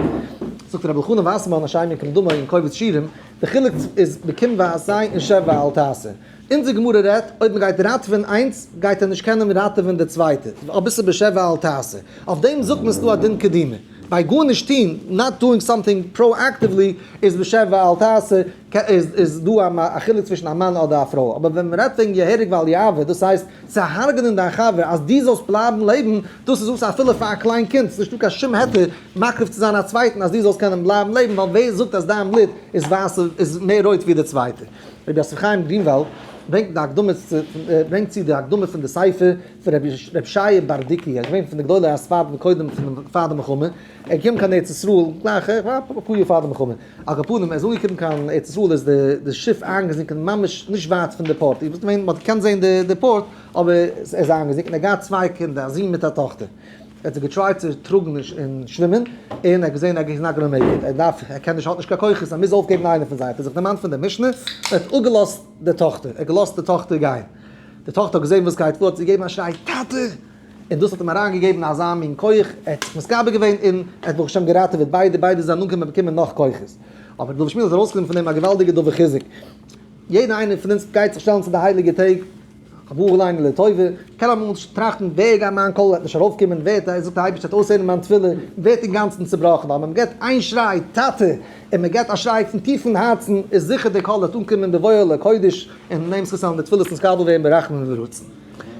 זאגט רבי אלחנן וואסערמאן השי ת כמדומה אין קובץ שירים, די חילוק איז בקום ועשה און שב ואל תעשה. אונזער גמרא רעדט אויב מען גייט ראטעווען איינס גייט ער נישט קענען ראטעווען די צווייטע, אויב עס איז בשב ואל תעשה אויף דעם זאגט מען ס'דא א דין קדימה, ביי גארנישט טוהן, נאט דואינג סאמטינג פראאקטיוולי, איז בשב ואל תעשה, איז דא א חילוק צווישן א מאן אדער א פרוי, אבער ווען מען רעדט וועגן יהרג ואל יעבור דאס הייסט צו הרג'נען דיין חבר אז דו זאלסט בלייבן לעבן, דאס איז וואס אפילו פאר א קליין קינד איז נישטא קיין שום היתר מקריב צו זיין א צווייטן אז דו זאלסט קענען בלייבן לעבן ווייל ווער זאגט אז דיין בלוט איז ווייסער איז מער רויט ווי די צווייטע. רבי יוסף חיים גרינוואלד ברענגט די הקדמה צו ברענגט צו די הקדמה פון די ספר פון רבי ישעי' בארדיקי א געווען פון די גדולי הספרד און קודם פון פאר די מלחמה ער איז געקומען קיין ארץ ישראל גלייך אפאר יאר פאר די מלחמה על כל פנים ער איז אנגעקומען קיין ארץ ישראל איז די שיף איינגעזינקען ממש נישט ווייט פון די פארט איר ווילט ווען מ'האט געקענט זעהן די פארט. אבער ער איז איינגעזינקען, ער האט געהאט צוויי קינדער, א זון מיט א טאכטער, ער האט זיך געטרייט צו טראגן און שווימען, און ער האט געזען אז ער איז נאט גאנא מעיק איט, ער דארף, ער קען נישט, ער האט נישט קיין כוחות, ער מוז אויפגעבן איינער פון זיי, האט ער זיך דערמאנט פון די משנה, און האט אפגעלאזט די טאכטער, ער האט געלאזט די טאכטער גיין, די טאכטער האט געזען וואס גייט פאר, האט זי געגעבן א שריי טאטע! און דאס האט אים אריין געגעבן אזא מין כח, ער האט זיך מתגבר געווען און ער האט ברוך השם געראטעוועט ביידע, ביידע זענען אנגעקומען באקומען נאך כוחות, אבער דוד שמואל איז ארויסגעקומען פון דעם א געוואלדיגע דבר חיזוק, יעדער איינער פון אונז גייט זיך שטעלן צו די הייליגע טעג, א בחור ליינען לטובה קען אמאל נישט טראכטן ווער גייט מיין קול וועט נישט ארויפקומען, ווערט ער זאגט די אייבערשטער וועט אויסהערן מיין תפילה, ווערט אינגאנצן צובראכן ווייל ווען מען געבט איין שריי טאטע און מען געבט א שריי פון טיפן הארצן איז זיכער די קול וועט אנקומען בבואו אל הקודש און דעם זכות וועלן די תפילות נתקבל ווערן ברחמים וברצון.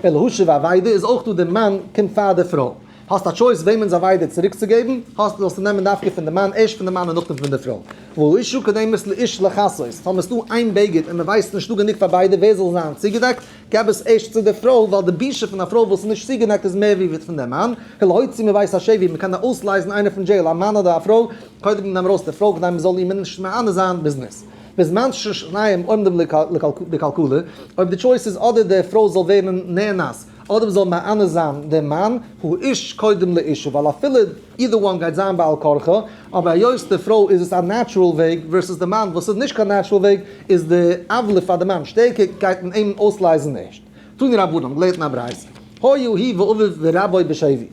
אין להשיב אבידה איז אויך דא די מאן קומט פאר די פרוי. האסט א טשויס וועמענס אבידה צוריק צו געבן, האסט זאלסטו נעמען דווקא פון די מאן, ערשט פון די מאן און נאכדעם פון די פרוי. והוא איש הוא כדי מות לאיש לכסות, פאר מען איז דא איין בגד און מען ווייסט נישט דא גענוג פאר ביידע ווער זאל זיין צוגעדעקט, געב עס ערשט צו די פרוי, ווייל די בושה פון א פרוי וואס איז נישט צוגעדעקט איז מער ווי ווי פון די מאן, להוציא מבית השבי, ווי מען קען אויסלייזן איינער פון דזשעיל, א מאן אדער א פרוי, קודם נעם ארויס די פרוי כדי מען זאל איר נישט מענה זיין בזנות. בזמן ששניהם עומדים לקלקלה, אויב די טשויס איז אדער די פרוי זאל ווערן נאנס, אדער זאל מענה זיין דער מאן, האיש קודם לאשתו, ווייל אפילו אידער וואן גייט זיין בעל כרחה, אבער היות די פרוי איז עס א נעטשרעל וועג ווערסעס די מאן וואס איז נישט קיין נעטשרעל וועג, איז די עוולה פאר די מאן שטערקער, גייט מען אים אויסלייזן ערשט. תנו רבנן האבן געלערנט אין א ברייתא, היה הי' ואביו ורבו בשבי.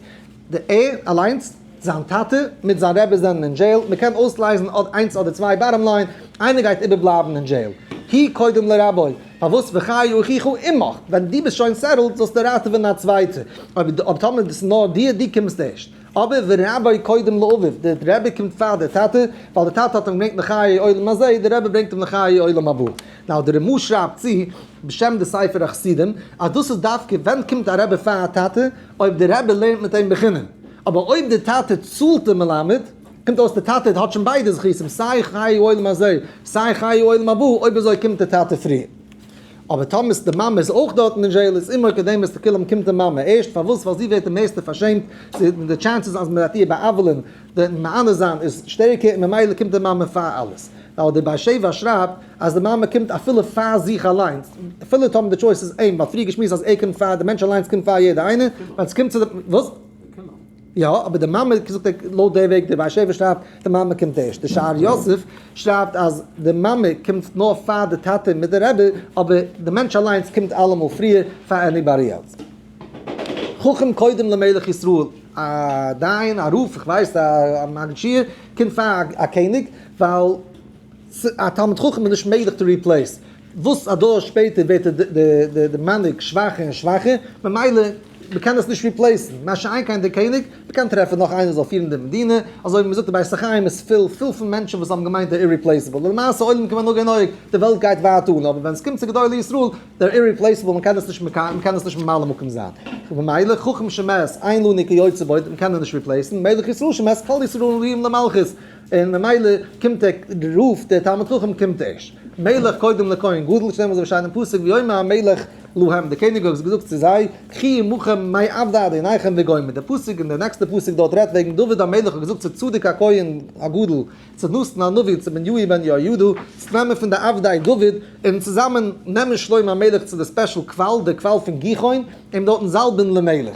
די ער אליינס, זיין טאטע, מיט זיין רבי זענען אין דזשעיל, מען קען אויסלייזן אדער איינס אדער צוויי, באטאם ליין, איינער גייט איבערבלייבן אין דזשעיל. הי קודם לרבו, פארוואס וחיי אחיך עמך, ווען דו ביסט שוין סעטעלד זאלסטו ראטעווען א צווייטער, אויב טאמער דאס איז נאר דיר, דו קומסט ערשט. אבער ורבי קודם לאביו, דער רבי קומט פאר דער טאטע, ווייל דער טאטע האט אים געברענגט לחיי עולם הזה, דער רבי ברענגט אים לחיי עולם הבא. נאו דער רמא שרייבט צו, בשם די ספר החסידים, אז דאס איז דווקא ווען קומט א רבי פאר א טאטע, אויב די רבי לערנט מיט אים בחינם, אבער אויב די טאטע צאלט די מלמד, קומט אויס די טאטע האט שוין ביידע זכותים, סיי חיי עולם הזה, סיי חיי עולם הבא, אויב אזוי קומט די טאטע פריער. אבער טאמער די מאמע איז אויך דארטן אין זשעיל, איז אימא קדמת לכולם קומט די מאמע ערשט, פארוואס? ווייל זי ווערט די מערסטע פארשעמט, זי די טשענסעס אז מען וועט איר בא'עוול'ען, די מענה זיין איז שטערקער, און ממילא קומט די מאמע פאר אלעס. ווייל דער באר שבע שרייבט. אז די מאמע קומט אפילו פאר זיך אליינס, אפילו טאמער די טשויס איז אים, ווייל פריער געשמועסט אז ער קומט פאר, די מענטש אליינס קומט פאר יעדער איינער, ווען עס קומט צו די, וואס? יא, אבער די מאמע זאגט ער לויט די וועג די בארשעווע שרייבט די מאמע קומט ערשט, די שער יוסף שרייבט אז די מאמע קומט נאר פאר די טאטע מיט די רבי, אבער די מענטש אליינס קומט אלעמאל פריער פאר עניבאדי עלס. חכם קודם למלך ישראל, א דיין, א רב, איך ווייס א מגיד שיעור, קומט פאר א קעניג, ווייל. א תלמיד חכם איז נישט מעגליך טו ריפלעיס, וואס א דור שפעטער ווערט די מנהיג שוואכער און שוואכער, ממילא מ'קען עס נישט ריפלעיסן, מה שאין כן די קעניג, מ'קען טרעפן נאך איינער זאל פירן די מדינה, אזוי ווי מ'זאגט די בית החיים איז פול פול פון מענטשן וואס האבן געמיינט דער איריפלעיסעבל, למעשה עולם כמנהגו נוהג, די וועלט גייט ווייטער אן, אבער ווען עס קומט צו גדולי ישראל, דער איריפלעיסעבל מ'קען עס נישט מ'קען עס נישט ממלא מקום זיין, וממילא חכם שמת איין לו ניקי יוצא בו, מ'קען אים נישט ריפלעיסן, מלך ישראל שמת כל ישראל ראויים למלכות. און ממילא קומט ער, רופט דער תלמיד חכם קומט ערשט, מלך קודם לכהן גדול, שטעלן מיר זיך אזוי פאר אינעם פסוק, ויאמר המלך להם, דער קעניג האט געזאגט צו זיי, קחי עמכם מי עבד אדוניכם וגומר, דער פסוק און דער נעקסטער פסוק דארט רעדט וועגן דוד המלך האט געזאגט צו צדוק הכהן הגדול, צו נתן הנביא און צו בניהו בן יהוידע, צו נעמען פון די עבדי דוד, און צוזאמען נעמען שלמה המלך צו די ספעשל קוואל, דער קוואל פון גיחון, אים דארטן זאלבן למלך.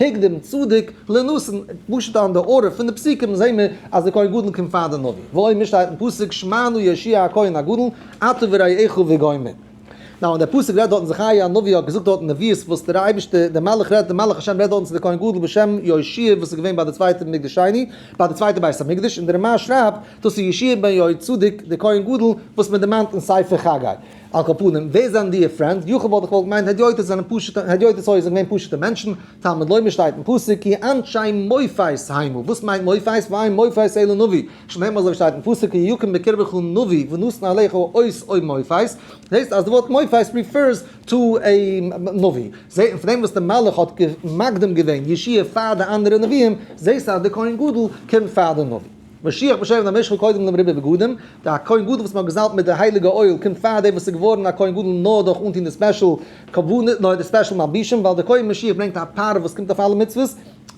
הקדים צדק לנתן, פשוט אן די ארע פון די פסוקים זעהן מיר אז די כהן גדול קומט פאר די נביא, ועוד מיר שטייט אין פסוק שמענו ישעי' הכהן הגדול אתה ורעיך וגומר, נאו און די פסוק רעדט דארטן זכריה הנביא האט געזאגט דארטן נביאות וואס דער אייבערשטער דער מלאך רעדט דער מלאך השם רעדט דארטן צו די כהן גדול בשם ישעי' וואס איז געווען ביי די צווייטע מקדש שני ביי די צווייטע בית המקדש און די רמא שרייבט דאס איז ישעי' בן יהויצדק די כהן גדול וואס מען דערמאנט אין ספר חגי. על כל פנים, ווער זענען דיע פרענדס? יוכי וואלט איך וואלט געמיינט הדיוטות זענען פשוטע, הדיוטות הויז זענען געווען פשוטע מענטשן, תלמוד לומד שטייט אין פסוק כי אנשי מופת היינו, וואס מיינט מופת? ואין מופת אלא נביא, שנאמר אזוי ווי שטייט אין פסוק כי יקום בקרבך נביא ונשנא עליך אות אויף מופת, זעהסט אז די ווארט מופת ריפערס טו עי נביא, זעהט מען פון דעם וואס די מלאך האט מקדים געווען ישעי' פאר די אנדערע נביאים, זעהסט אז די כהן גדול קומט פאר די נביא. משיח בשם דעם משכן קודם דעם ריבוי בגדים, דער הכהן גדול וואס מען האט געזאלבט מיט די הייליגע אויל קומט פאר דער וואס איז געווארן א כהן גדול נאר דורך אנטון די ספעשל קרבנות נאר די ספעשל מלבישים ווייל דער כהן משיח ברענגט א פאר וואס קומט אויף אלע מצוות,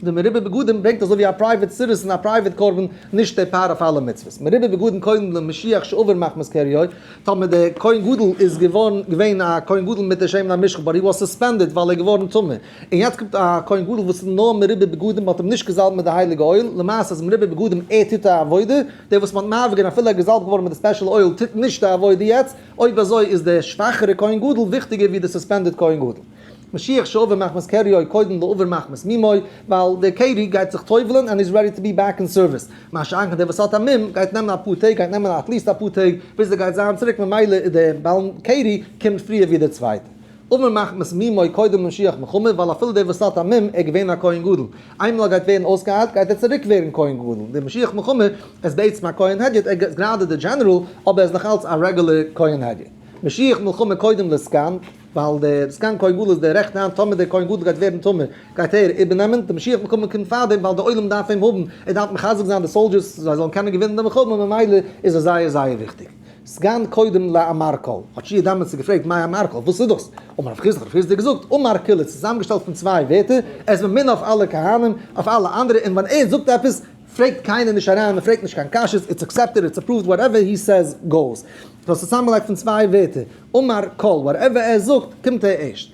דער מרובה בגדים ברענגט אזוי ווי א פרייוועט סירוס און א פרייוועט קרבן נישט דער פאר אויף אלע מצוות, מרובה בגדים קודם דעם משיח שעובר מחמת קריו, טאמער דער כהן גדול איז געווארן געווען א כהן גדול מיט דער שמן המשחה באט הי וואס סוספענדעד ווייל ער איז געווארן טמא. און יעצט קומט א כהן גדול וואס איז נאר מרובה בגדים האט אים נישט געזאלבט מיט די הייליגע אויל, למעשה איז מרובה בגדים ער טוט א עבודה, דער וואס מ'האט מערב געווען אפילו ער איז געזאלבט געווארן מיט די ספעשל אויל טוט נישט די עבודה יעצט, אויב אזוי איז די שוואכערע כהן גדול וויכטיגער ווי די סוספענדעד כהן גדול. משיח שעבר מחמת קריו קודם לעבור מחמת מימיו, ווייל דער קרי גייט זיך טובל'ן ענד איז רעדי טו בי בעק אין סערוויס, מה שאין כן דער וואס האט א מום גייט נעמען אפאר טעג גייט נעמען עטליעסט אפאר טעג ביז ער גייט זיין צוריק ממילא איז דער בעל קרי קומט פריער ווי דער צווייטער. אמן מחמת מי מאי קודם למשיח מחמת ווייל אפילו דער וואס האט א מום ער איז געווען א כהן גדול איינמאל ער גייט ווערן אויסגעהיילט גייט ער צוריק ווערן כהן גדול דער משיח מחמת ער איז בעצם א כהן הדיוט ער איז גראדע דער דזשענעראל אבער ער איז נאך אלץ א רעגולער כהן הדיוט משיח מלחמה קודם לזקן ווייל דער זקן כהן גדול איז דער רעכטע האנט טאמער דער כהן גדול גייט ווערן טמא גייט ער איבערנעמען דער משיח מלחמה קומט פארדעם ווייל דער עולם דארף אים האבן ער דארף מחזק זיין די סאלדזשערס זיי זאלן קענען געווינען די מלחמה ממילא איז ער זייער זייער וויכטיג. סגן קודם לאמרקל, האט שי' דאמאלס געפרעגט מאי אמרקל, וואס איז דאס? אמר רב חיסדא, כ'האב פריער צו דיר געזאגט, אמרקל איז צוזאמגעשטעלט פון צוויי ווערטער, ער איז ממונה אויף אלע כהנים, אויף אלע אנדערע, און ווען ער זאגט עפעס, פרעגט קיינער נישט אריין, מען פרעגט נישט קיין קשיות, איטס אקסעפטעד, איטס אפראווד, וואטעווער הי סעיז גאוס. ס'איז צוזאמגעלייגט פון צוויי ווערטער, אמרקל, וואטעווער ער זאגט, קומט ער ערשט.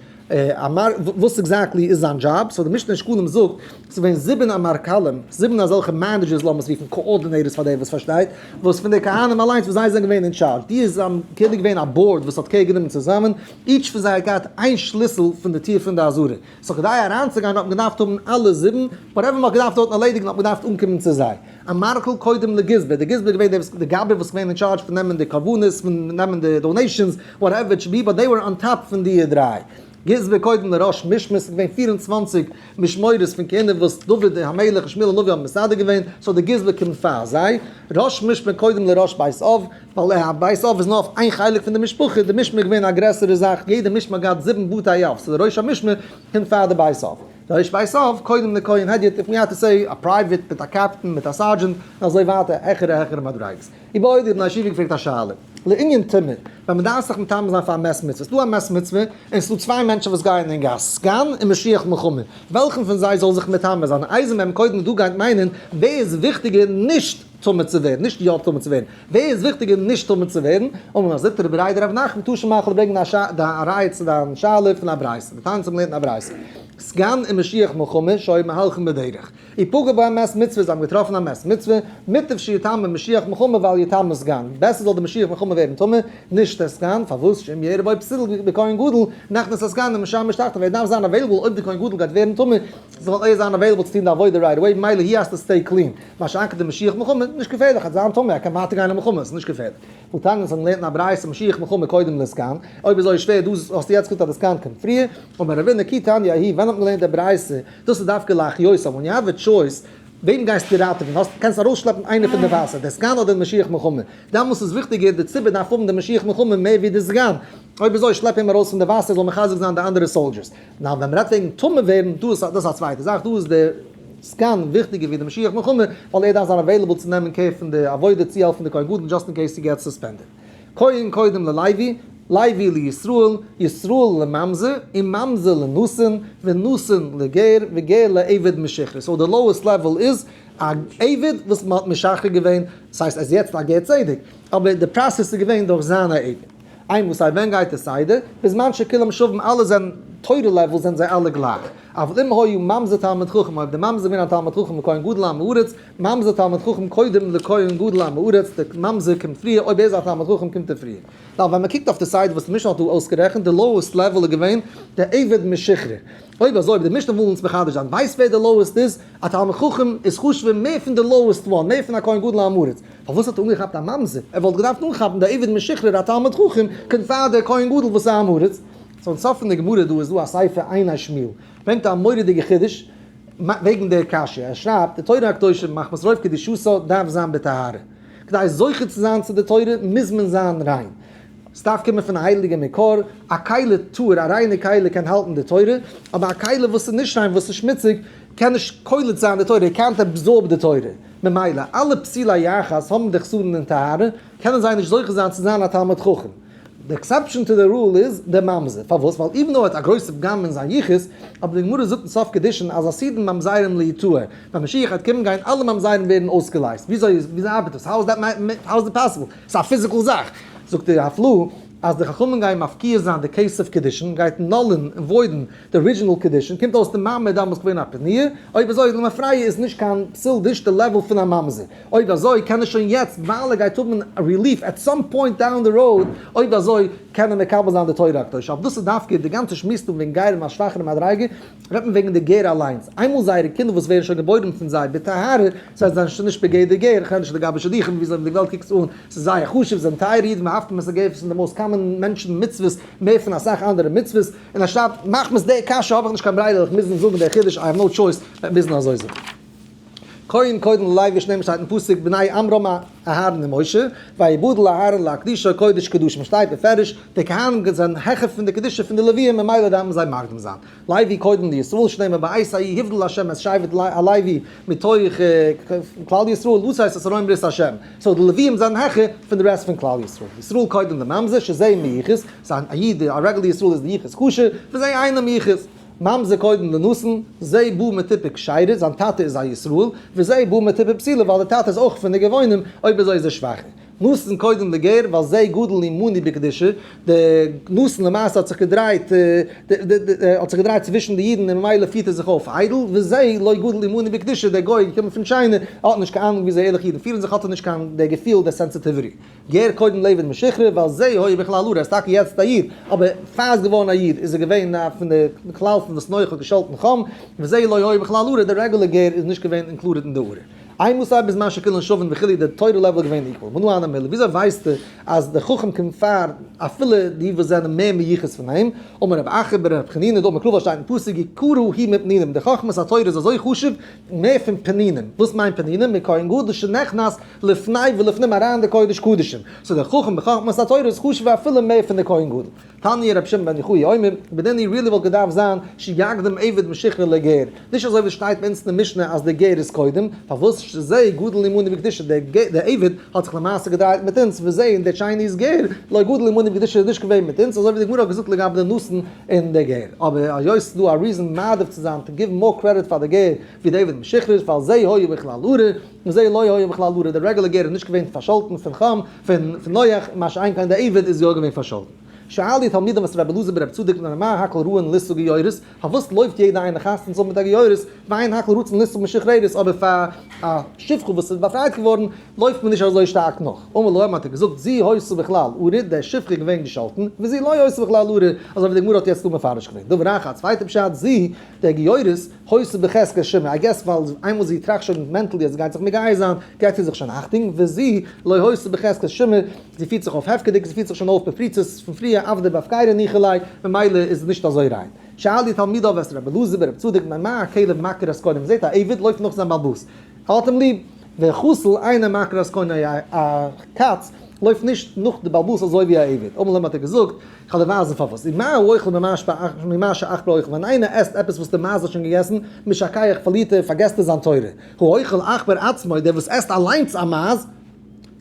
אמר, וואס עקזעקטלי איז זיין דזשאב? סאו די משנה אין שקלים זאגט, ס'איז געווען זיבן אמרכלים, זיבן אזעלכע מענעדזשערס לאמיר עס רופן קאארדינעיטערס פאר דער וואס פארשטייט, וואס פון די כהנים אליינס וואס זיי זענען געווען אין טשארדזש, די איז זיי כאילו געווען א באורד וואס האט קעיר גענומען צוזאמען, איטש פון זיי האט געהאט איין שליסל פון די טיר פון די עזרה, סאו כדי אריינצוגיין האט מען געדארפט האבן אלע זיבן, וואטעווער מ'האט געדארפט דארטן ערלעדיגן האט מען געדארפט אנקומען צו זיי. א מארקל קודם לגזבר, די גזבר איז געווען דער די גאבע וואס געווען אין טשארדזש פון נעמען די קרבנות פון נעמען די דאנעישאנס וואטעווער טשבי באט דעי ווער אן טאפ פון די דריי גזבר קודם לראש משמרת ס'איז געווען פֿיר און צוואַנציק משמרות פון כהונה וואס דוד המלך און שמואל הנביא האבן מסדר געווען סאו די גזבר קומט פאר זיי ראש משמרת קודם לראש בית אב ווייל א בית אב איז נאר אויף איין חלק פון די משפחה די משמרת איז געווען א גרעסערע זאך יעדע משמרת האט געהאט זיבן בתי אב סאו די ראש המשמרת קומט פאר די בית אב. ר' ווייסהאף, קודם די כהן הדיוט איף מי האט טו סעי, א פרייוועט מיט א קעפטען מיט א סארדזשענט און אזוי ווייטער העכערע העכערע מדריגות. איבער אויב די בני הישיבה געפרעגט א שאלה. לענין טעמע, ווען מען דארף זיך מטמא זיין פאר א מעס מצוה, ס'דא א מעס מצוה און ס'דא צוויי מענטשן וואס גייען אין גאס, סגן און משיח מלחמה, וועלכן פון זיי זאל זיך מטמא זיין? אייזנבערג, קודם דו גייט מיינען ווער איז וויכטיגער, נישט. טמא צו ווערן, נישט יא טמא צו ווערן, ווער איז וויכטיגער נישט טמא צו ווערן, אמר מר זיתא רבי רייד רב נחמן טאהש מאכל און ברענגן א ראיה צו דיין שאלה פון א ברייתא, די תניא האבן געלערנט אין א ברייתא, סגן און משיח מלחמה שוהים מהלכים בדרך, אי פגע בהם מת מצוה זיי האבן געטראפן א מת מצוה, מוטב שיטמא משיח מלחמה ואל יטמא סגן, בעסער זאל דער משיח מלחמה ווערן טמא, נישט דער סגן, פארוואס שאם יהיה רבו פסיל בכהן גדול, נכנס הסגן ומשם משתחתו, ווער דארף זיין אוועילעבל אויב דער כהן גדול גייט ווערן טמא, זאל ער זיין אוועילעבל צו טוהן די עבודה רייט עוועי, מילא הי האסטו סטעי קלין. מה שאין כן די משיח מלחמה, נישט געפערליך, ער איז זיין טעמע, ער קען ווייטער גיין אין מלחמה, ס'איז נישט געפערליך. כ'וואלט טענה'ט אז מ'לערנט אין א ברייתא משיח מלחמה קודם לעסקן, אויב איז אזוי שווער, דא האסטו יעצט געזאגט אז לעסקן קומט פריער, אבער רבי נקי תניא הי', ווען האט מען געלערנט די ברייתא, דאס איז דווקא להחיות עם, ווען יו העוו א טשויס, וועם גייסטו ראטעווען, האסט, קענסט ארויסשלעפן איינער פון די וואסער, די סגן אדער די משיח מלחמה, דעמאלס איז וויכטיגער, די ציבור דארף האבן די משיח מלחמה מער ווי די סגן, אויב איז אזוי שלעפ אים ארויס פון די וואסער, ער זאל מחזק זיין די אנדערע סאלדשערס. נאר ווען מ'רעדט וועגן טמא ווערן, דא איז דאס א צווייטע זאך, דא איז די סקען וויכטיגער ווי די משיח מלחמה, ווייל ער דארף זיין עוועילעבל צו נעמען קער פון די עבודה צו העלפן די כהן גדול דזשאסט אין קעיס ס'געט סוספענדעד. כהן קודם ללוי, לוי לישראל, ישראל לממזר, און ממזר לנאסון, ונאסון לגר, וגר לעבד משוחרר. סאו די לאועסט לעוועל איז א עבד וואס מ'האט משחרר געווען, ס'הייסט ער איז יעצט א גר צדק, אבער די פראסעס איז געווען דורך זיין א עבד. איין וואס א ווען גייט עס איידער, בזמן שכולם שווים אלע זענען, תורה לעוועל זענען זיי אלע גלייך, אבל אם היה ממזר תלמיד חכם אויב דער ממזר איז געווען א תלמיד חכם לכהן גדול עם הארץ, ממזר תלמיד חכם קודם לכהן גדול עם הארץ, דער ממזר קומט פריער, אויב ער איז א תלמיד חכם קומט ער פריער. ווייל ווען מען קוקט אויף די סדר וואס די משנה האט דא אויסגערעכנט, די לאועסט לעוועל איז געווען דער עבד משכרה, אויב אזוי, אויב די משנה וויל אונז מחדש זיין, ווייסט ווער דער לאועסט איז? א תלמיד חכם איז חשוב'ער מער פון די לאועסט וואן, מער פון א כהן גדול א עמארץ. פארוואס האט ער אנגעכאפט א ממזר? ער וואלט געדארפט אנכאפן די עבד משוחרר א תלמיד חכם, קודם פאר דער כהן גדול וואס איז א עמארץ. צום סוף פון די גמרא דא איז דא א ספר עיני השמיל, ברענגט א מורא'דיגע חידוש וועגן דער קשיא, ער שרייבט, די תורה הקדושה מחמת רוב קדושתה דארף זיין בטהרה. כדי זוכה צו זיין צו די תורה מוז מען זיין ריין. ס'דארף קומען פון א הייליגע מקור. א כלה טהור, א ריינע כלה קען האלטן די תורה, אבער א כלה וואס איז נישט ריין, וואס איז שמוציג, קען נישט קולט זיין די תורה, ער קען נאט אבזארב די תורה, ממילא אלע פסילי יחס האבן די חסרון אין טהרה, קענען זיי נישט זוכה זיין צו זיין א תלמיד חכם. די עקסעפשאן טו די רול איז די ממזר, פארוואס? ווייל איווען דאו ער האט א גרויסע פגם אין זיין יחוס, אבער די גמרא זאגט אין סוף קידושין אז עשיתם ממזרים ליתוה, ווען משיח וועט קומען גייען אלע ממזרים ווערן אויסגעלייזט, וויאזוי ארבעט דאס? האו איז דעט האו איז דעט פאסיבל? ס'איז א פיזיקל זאך. זאגט די הפלא אז די חכמים גייען מפקיר זיין די כסף קידושין, גייט נולן און וואוידן, די ארידזשינעל קדישין קומט אויס די מאמע איז דאמאלס געווען א פניה, אויב אזוי איז למפרע י נישט קיין פסול נישט די לעוועל פון א ממזר, אויב אזוי קען ער שוין יעצט ווייל ער גייט האבן רעליף עט סאם פוינט דאון די ראוד, אויב אזוי קען ער מקבל זיין די תורה הקדושה, אויף דאס איז דווקא די גאנצע שמועס דא וועגן גרים א שוואכערע מדריגה, רעדט מען וועגן די גר אליינס, איינמאל זייערע קינדער וואס ווערן שוין געבוירן פון זיי בטהרה, זיי זענען שוין נישט בגדר גר, איך רעד נישט לגבי שידוכים וויאזוי די וועלט קוקט עס אן, עס איז זייער חשוב, זיי זענען טייערע אידן, מ'האפט אז מ'זאל געפעסן די מאוסט קאמאן מענטשן מצוות מער פון אסאך אנדערע מצוות, און אנשטאט מחמת די קשיא האב איך נישט קיין ברירה וועל איך מוזן זאגן דער חידוש איי האב נאו טשויס וועט מוזן אזוי זיין. קודם קודם לויט ווי שנען שטייט אין פסוק בני עמרם אהרן און משה ויבדל אהרן להקדישו קודש קדשים שטייט בפירוש די כהנים זענען העכער פון די קדושה פון די לוויים ממילא דארפן זיי מקדים זיין לוי קודם לישראל שנאמר בית האי יבדל השם עס שבט הלוי מתוך כלל ישראל דאס הייסט עס ארום ברית השם סאו די לוויים זענען העכער פון די רעסט פון כלל ישראל ישראל קודם לממזר שזה מיחוס זיין א איד, א רגל ישראל איז די יחוס קשר, פון זיי אינעם יחוס. ממזר קודם לנשן, זה בא מתיפה כשרה, זיין טאטע איז א ישראל, וזה בא מתיפה פסילה ווייל די טאטע איז אויך פון די גאונים, אויב אזוי איז ער שוואכער. נשן קודם לגר, ווייל זה גדל אימוני בקדושה, די נשן למעשה האט זיך געדרייט האט זיך געדרייט צווישן די אידן און ממילא פירט ער זיך אויף איידל, וזה לא גדל אימוני בקדושה, דער גוי איז געקומען פון טשיינע, ער האט נישט קיין אנונג וויאזוי ערליכע אידן פירן זיך, האט ער נישט קיין דער געפיל, דער סענסעטיוויטי. געהער קודם לעבען משוחרר ווייל זי הוי בכלל ארה, ער איז טאקע יעצט א איד, אבער פאר ער איז געווארען א איד איז ער געווען א פון די כלל פון וואס נח האט געשאלטען חם, וזי לא הוי בכלל ארה, דער רעגולער געהער איז נישט געווען אינקלודעד אין די ארה. איי מוסר בזמן שכולן שווין וכו' איז די תורה לעוועל געווען איקוועל? מנו אנא מילי, וויאזוי ווייסטו אז די חכם קומט פאר אפילו די וואס זענען מער מיוחס פון אים? אמר רב אחר בר רב חנינא דאמר קרובא שטייט אין פסוק יקורו ה' מפנינים, די חכמת התורה איז אזוי חשוב מער פון פנינים, וואס מיינט פנינים? מכהן גדול שנכנס לפני ולפנים אריין די קודש קדשים, סאו די חכם בחכמת התורה איז חשוב'ער אפילו מער פון די כהן גדול. תניא רבי שמעון בן יוחאי אומר, בדניא רילי וואלט געדארפט זיין שיקדם עבד משכרו לגר, נישט אזוי ווי עס שטייט ביי אונז אין משנה אז דער גר איז קודם, פארוואס שזה גדול אמונה וקדושה, דער עבד האט זיך למעשה געדרייט מיט אונז, וזה און דער טשייניז גר לא גדול אמונה וקדושה איז נישט געווען מיט אונז, אזוי ווי די גמרא האט געזאגט לגבי די נאסן און די גר. אבער היות ס'איז דא א ריזען מעדיף צו זיין טו גיוו מאר קרעדיט פאר די גר ווי די עבד משכרו איז ווייל זה היה בכלל ארה, מזה לא היה בכלל ברירה, דער רעגולער גר איז נישט געווען פארשאלטן פון חם, פון נח, מה שאין כן דער עבד איז יא געווען פארשאלטן. שאל די תלמידים וואס רבי אלעזר בן רבי צדוק בן ארימאי הקל ראה אין ליסטו גיורות, פארוואס לויפט יעדע איינע חתן צו האבן מיט א גיורות, ועיין הקל ראה צום ליסטו משוחררת, אבער פאר א שפחה וואס איז באפרייט געווארן לויפט מען נישט אזוי שטארק נאך. אמר להם האט ער געזאגט זי הייסו בכלל ארי, דער שפחה איז געווען געשאלטן, וזה לא הייסו בכלל ארי, אזוי ווי די גמרא האט יעצט דא מפרש געווען. דברי רח א צווייטע פשט, זי, דער גיורות, הוספ בחזקה שמע, איי געס ווייל איינמאל זי טראכט שוין מענטלי אז זי גייט זיך מגייס זיין, געט זי זיך שוין אכטונג, וזי לא הוספ בחזקת שמע, זי פירט זיך אויף הפקר'דיג, זי פירט זיך שוין אויף בפריצות פון פריער אוו דער בהפקירא ניחא ליה, ממילא איז עס נישט אזוי ריין. שאלי תלמידיו את רבי אלעזר בן רבי צדוק מה מה הכלב מעקר אז קונה, מ'זעט א עבד לויפט נאך זיין בעלבאס, ער האט אים ליב, והחתול אינו מעקר אז קונה, א קאץ לויפט נישט נאך די בעלבאס אזוי ווי א עבד, אמאל אים האט ער געזאגט, כ'האב דיר ווייזן פארוואס. און מה האוכל ממה שאכלו אוכל, ווען איינער עסט עפעס וואס דער מייז האט שוין געגעסן, משא כ איך, פארלירט ער און פארגעסט ער זיין תורה. האוכל עכברא עצמו, דער וואס עסט אליינס א מייז,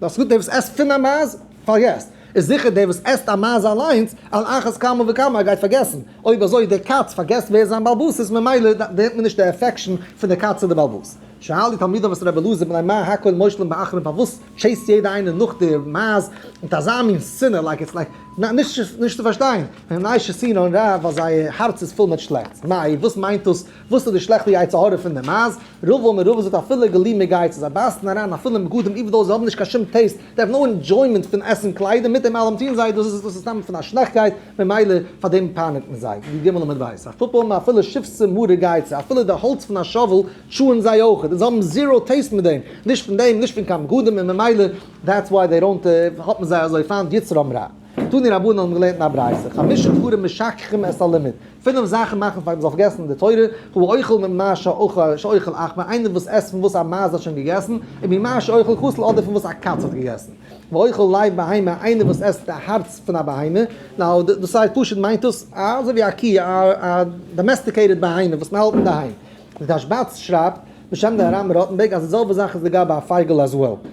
דאס גוט, דער וואס עסט פון א מייז, פארגעסט. איז זיכער דער וואס עסט א מייז אליינס, על אחת כמה וכמה, ער גייט פארגעסן. אויב אזוי, דער קאץ פארגעסט ווער איז זיין בעל בית, איז ממילא דערנענט מען נישט די עפעקשאן פון דער קאץ צו דער בעל בית. שאל די תלמידים את רבי אלעזר בן עמא, הכל מושלם באחרון, פארוואס טשעיסט יעדע איינע נאך די מייז מיט אזא מין שנאה לייק איטס לייק נאט נישט נישט צו פארשטיין ווען ניישע שנאה און רייד ווייל זייער הארץ איז פול מיט שלעכטס מאי וואס מיינט דאס וואס איז די שלעכטע יצר הרע פון די מייז רובא מרובא זאגט אפילו גלי מגייצער זיי בייסן אריין אפילו אין בגדים איווען דאו זיי האבן נישט קיין שום טעיסט זיי האבן נאר ענדזשוימענט פון עסן קליידער מיט דעם אלעם טוען זיי דאס איז דאס סתם פון א שלעכטקייט ממילא פאר דעם פייניגט מען זיי די גמ' למד בית אפופא מאי אפילו שפסע מרה גייצער אפילו די האלץ פון א שאוועל טשוען זיי אויכעט און זיי האבן זיראו טעיסט מיט דעם, נישט פון דעם נישט פון קיין בגדים און ממילא דעטס וויי דעי דאונט האט מען זיי אזוי פיינט יצר האמר א תני רבנן האבן געלערנט אין א ברייתא חמשה דברים משכחים את הלימוד פינף זאכן מאכן פאר מען זאל פארגעסן די תורה הוא אוכל ממה שאוכל א כ איינער וואס עסט פון וואס א מייז האט שוין געגעסן וממה שאוכל כסל אדער פון וואס א קאץ האט געגעסן ואוכל לב בהמה איינער וואס עסט די הארץ פון א בהמה נאו דאס הייסט פשוט מיינט עס אזוי ווי א קי א דאמעסטיקעיטעד בהמה וואס מען האלט אינדערהיים. די תשבץ שרייבט בשם די הרמ ראטענבערג אז די זעלבע זאך איז לגבי א פייגעל as well.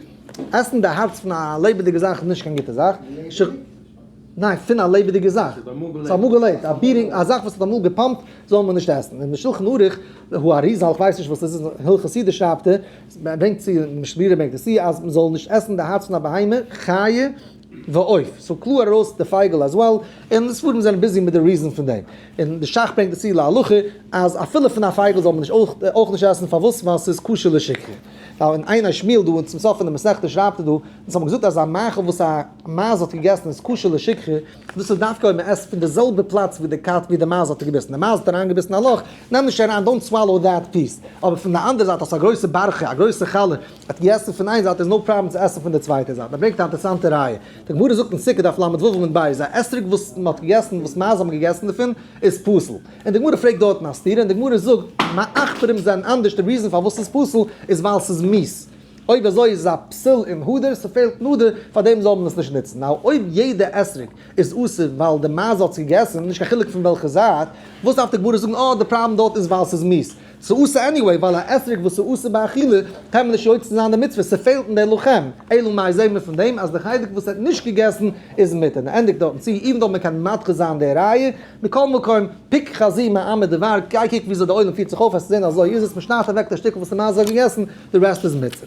עסן די הארץ פון א לעבעדיגע זאך איז נישט קיין גוטע זאך. ניין פון א לעבעדיגע זאך. וואס האט אמאל געלעבט. א ביטינג א זאך וואס האט אמאל געפאמפט זאל מען נישט עסן. אין די שלחן ערוך וואו האריזאל איך ווייס נישט וואס עס איז אין הלכות סידור שרייבט ער, ברענגט צו משבירי ברענגט עס צו אז מען זאל נישט עסן די הארץ פון א בהמה, חיה, ועוף, סאו קלאר ארויס די פייגל עז וועל, און די ספרים זענען ביזי מיט די ריזען פון דעם, און די שך ברענגט עס צו להלכה אז אפילו פון א פייגל זאל מען נישט אויך נישט עסן, פארוואס? ווייל ס'איז כשר לשכחה, ווייל אין עיני שמואל דא אין צום סוף פון די מסכתא שרייבט ער דא, אונז האבן געזאגט אז א מאכל וואס א מייז האט געגעסן איז כשר לשכחה, דאס איז דווקא אויב מען עסט פון די זעלבע פלאץ ווי די קאץ ווי די מייז האט געביסן, די מייז האט אריין געביסן א לאך, נעם נישט אריין, דאונט סוואלאו דעט פיס, אבער פון די אנדערע זייט האסטו א גרויסע בארכע, א גרויסע חלה, ער האט געגעסן פון איין זייט איז נאו פראבלעם צו עסן פון די צווייטע זייט. ער ברענגט א אינטערעסאנטע ראיה. די גמרא זאגט אין סוכה דף לד ו עמוד ב' אז א אתרוג וואס מען האט געגעסן וואס מייז האבן געגעסן דערפון איז פסול. און די גמרא פרעגט דארטן א סתירה און די גמרא זאגט מעכפרים זענען אנדערש די ריזען פארוואס ס'איז פסול איז ווייל ס'איז מיעס. אויב אזוי איז עס א פסול אין הדר, ס'פעלט נדר, פארדעם זאל מען עס נישט נוצן. נאו אויב יעדע אתרוג איז אסור ווייל די מייז האט עס געגעסן, נישט קיין חילוק פון וועלכע זייט, וואס דארף די גמרא זאגן אה די פראבלעם דארט איז ווייל ס'איז מיעס. ס'אסור עניוועי ווייל א אתרוג וואס איז אסור באכילה קען מען נישט יוצא זיין די מצוה, ס'פעלט אין די לוחם, אלא מאי זעהן מיר פון דעם אז די חלק וואס ער האט נישט געגעסן איז מותר, און ער ענדיגט דארטן צו, איווען דאו מ'קען מדחה זיין די ראיה, מכל מקום, פוק חזי מאמר דבר, גיי קוק וויאזוי די עולם פירט זיך אויף וועסטו זעהן אזוי איז עס, מ'שניידט אוועק די שטיקל וואס די מייז האט געגעסן, די רעסט איז מותר.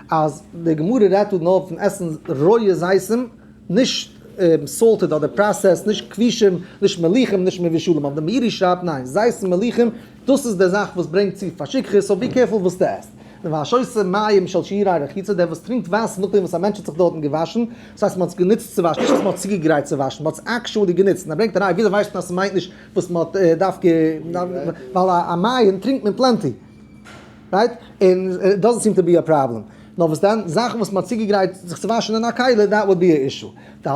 אז די גמרא רעדט דא נאר פון עסן רויע זיתים, נישט סאלטעד אדער פראסעסד, נישט כבישים, נישט מליחים, נישט מבושלים, אבער דער מאירי שרייבט ניין, זיתים מליחים, דאס איז די זאך וואס ברענגט צו פאר שכחה, סאו בי קערפול וואס דו עסט. און והשותה מים של שירי רחיצה, דער וואס טרינקט וואסער נאכדעם וואס א מענטש האט זיך דארטן געוואשן, דאס הייסט מען האט עס גענוצט צו וואשן, נישט אז מען האט צוגעגרייט צו וואשן, מען האט עס עקשועלי גענוצט, און ער ברענגט א ראיה, וויאזוי ווייסט מען אז ס'מיינט נישט וואס מען האט דווקא, ווייל א מים טרינקט מען פלענטי. רייט? און דאזענט סיעם טו בי א פראבלעם. נאר וואס דען? זאכן וואס מ'האט צוגעגרייט זיך צו וואשן אין א כלי, דעט וואלט בי א אישו. די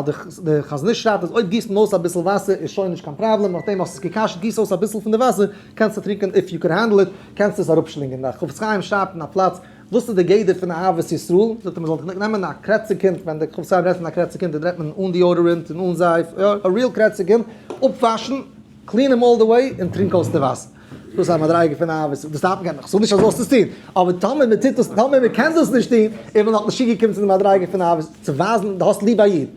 חזון איש שרייבט אז אויב גיסט מען אויס אביסל וואסער איז שוין נישט קיין פראבלעם, נאכדעם האסט עס געקאשט גיס אויס אביסל פון די וואסער, קענסטו טרינקען איף יו קען הענדל איט, קענסטו עס אראפשלינגען. דער חפץ חיים שרייבט אין א פלאץ וואס איז די גדר פון אהבת ישראל, זאגט ער מען זאל נעמען א קרעציג קינד, ווען דער חפץ חיים רעדט פון א קרעציג קינד רעדט מען אן דיאודערענט און אן זייף, יא, א ריעל קרעציג קינד, אפוואשן, קלין אים אלל די וועי, און טרינק אויס די וואסער. דאס איז א מדריגה פון אהבה, דאס דארף מען קענען, איך זאג נישט אז זאלסט דאס טון, אבער טאמער מען טוט דאס, טאמער מען קען דאס נישט טון, איז מען נאך נישט צוגעקומען צו די מדריגה פון אהבה, צו ווייזן דו האסט ליב א איד.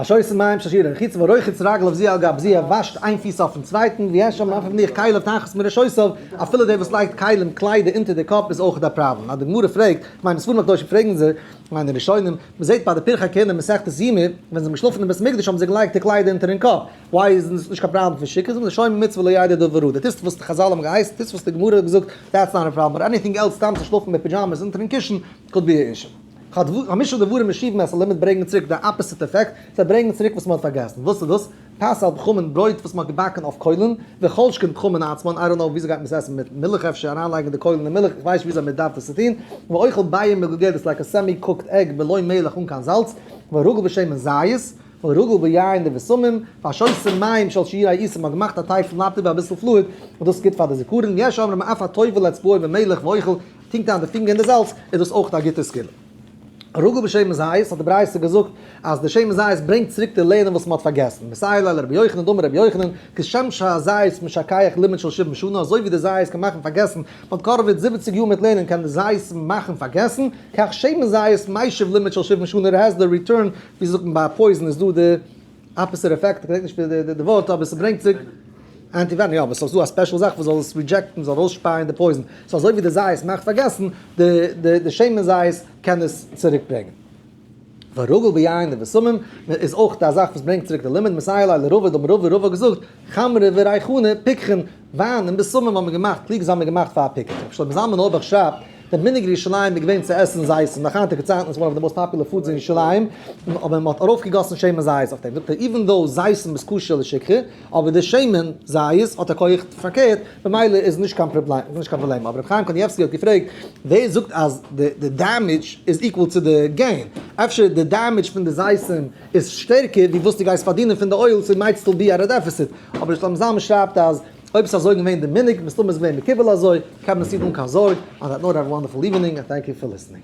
ושויס מים ששיר ער חוץ ורוחץ רגליו זה על גב זה ער וואשט איין פיס אויפן צווייטן ווי עשו מאפער מניח כליו תחת מרשוסיו אפילו דער וואס לייגט כלים קליידער אונטער די קאפ איז אויך א פראבלעם אז די גמרא פרעגט מיינע ספרים הקדושים פרעגן זיי מיינע ראשונים מ'זעט ביי די פרחי כהונה מסכת יומי ווען זיי האבן געשלאפן אין בית המקדש האבן זיי געלייגט די קליידער אונטערן קאפ וויי איז עס נישט קיין פראבלעם פון שיק זאגן לשומר מצוה לא ידע דא וראה די טוסט וואס די חזל האבן געהייסן טוסט וואס די גמרא האט געזאגט דעטס נאט א פראבלעם באט עניטינג עלס סתם צו שלאפן מיט פידזשאמעס אונטערן קישן קוד ביעישן. חמשה דברים משיב מעשר למד ברענגן צוריק די אפעסיט עפעקט, זיי ברענגן צוריק וואס מען האט פארגעסן. וואס איז דאס? פס על בחמין ברויט וואס מען האט געבאקן אויף קוילן, וכל שכן בחמין עצמן, איי דאנט נאו וויאזוי גייט מען עס עסן מיט מילך אפשר אריינלייגן די קוילן אין מילך, איך ווייס נישט וויאזוי מען דארף עס טון, ואוכל בייען מגוגדת לייק א סעמי קוקט עג בלוי מילך אן קיין זאלץ, ורגל בשמן זית, ורגל ביין די בשמים, והשוסים מים של שעיר העיסה מען האט געמאכט א טיי פון לאטער ווי אביסל פלואיד, און דאס איז גוט פאר די זיכרון, יש אומרים אף א טובל אצבעו במילך ואוכל טונקט איין די פינגער אין די זאלץ איז דאס אויך א גוטע סגולה. רגל בשמן זית האט די ברייתא געזאגט אז די שמן זית ברענגט צוריק צו לערנען וואס מען האט פארגעסן, מסייעלע לרבי יוחנן דאמר רבי יוחנן, כשם שהזית משכח לימוד של שבעים שנה, אזוי ווי די זית קען מאכן פארגעסן, מען האט קארוועט זיבעציג יאר מיט לערנען קען די זית מאכן פארגעסן, כך שמן זית מיישב לימוד של שבעים שנה, ר' העזל ריטורן, ווי זאגט מען ביי א פויזן איז דא די. אפעסיט אפעקט, איך געדענק נישט די ווארט אבער ס'ברענגט צוריק אנטי ווענעם, יא אבער ס'איז דא א ספעשל זאך וואס זאל עס רידזשעקטן, זאל ארויסשפייען די פויזן, סאו אזוי ווי די זייערס מאכט פארגעסן, די שמן זית קען עס צוריק ברענגען. והרגל ביין די בשמים איז אויך א זאך וואס ברענגט צוריק די לימוד, מסייע ליה לרובא דאמר רבא, רבא האט געזאגט, חמרא וריחנא פיקחין. וויין און בשמים האט מען געמאכט קלוג זיי האבן געמאכט פאר פיקניק רבי שלמה זלמן אויערבאך שרייבט דער מנהג ירושלים איז געווען צו עסן זייס און נאך היינטיגע צייטן איז וואן אוו די מאוסט פאפולער פודס אין ירושלים אבער מען האט ארויפגעגאסן שמן זית אויף דעם זאגט ער איווען דאו זייסן איז כשר לשכחה אבער די שמן זית האט א כח פארקערט ממילא איז נישט קיין פראבלעם אבער רבי חיים קנייבסקי האט געפרעגט ווער זאגט אז די דעמעדזש איז איקוועל צו די געין אפשר די דעמעדזש פון די זייסן איז שטערקער ווי וואס דו גייסט פארדינען פון די אויל סאו מייט סטיל בי א ר דעפיסיט אבער נישט אום זאמס שרייבט אז אויב סאיז אזוי געווען די מנהג מסתמא איז געווען מקובל אזוי קען מען עס טון אן קיין זארג אן דעט נאוט האוו א וואנדערפול איווענינג און טענק יו פאר ליסענינג.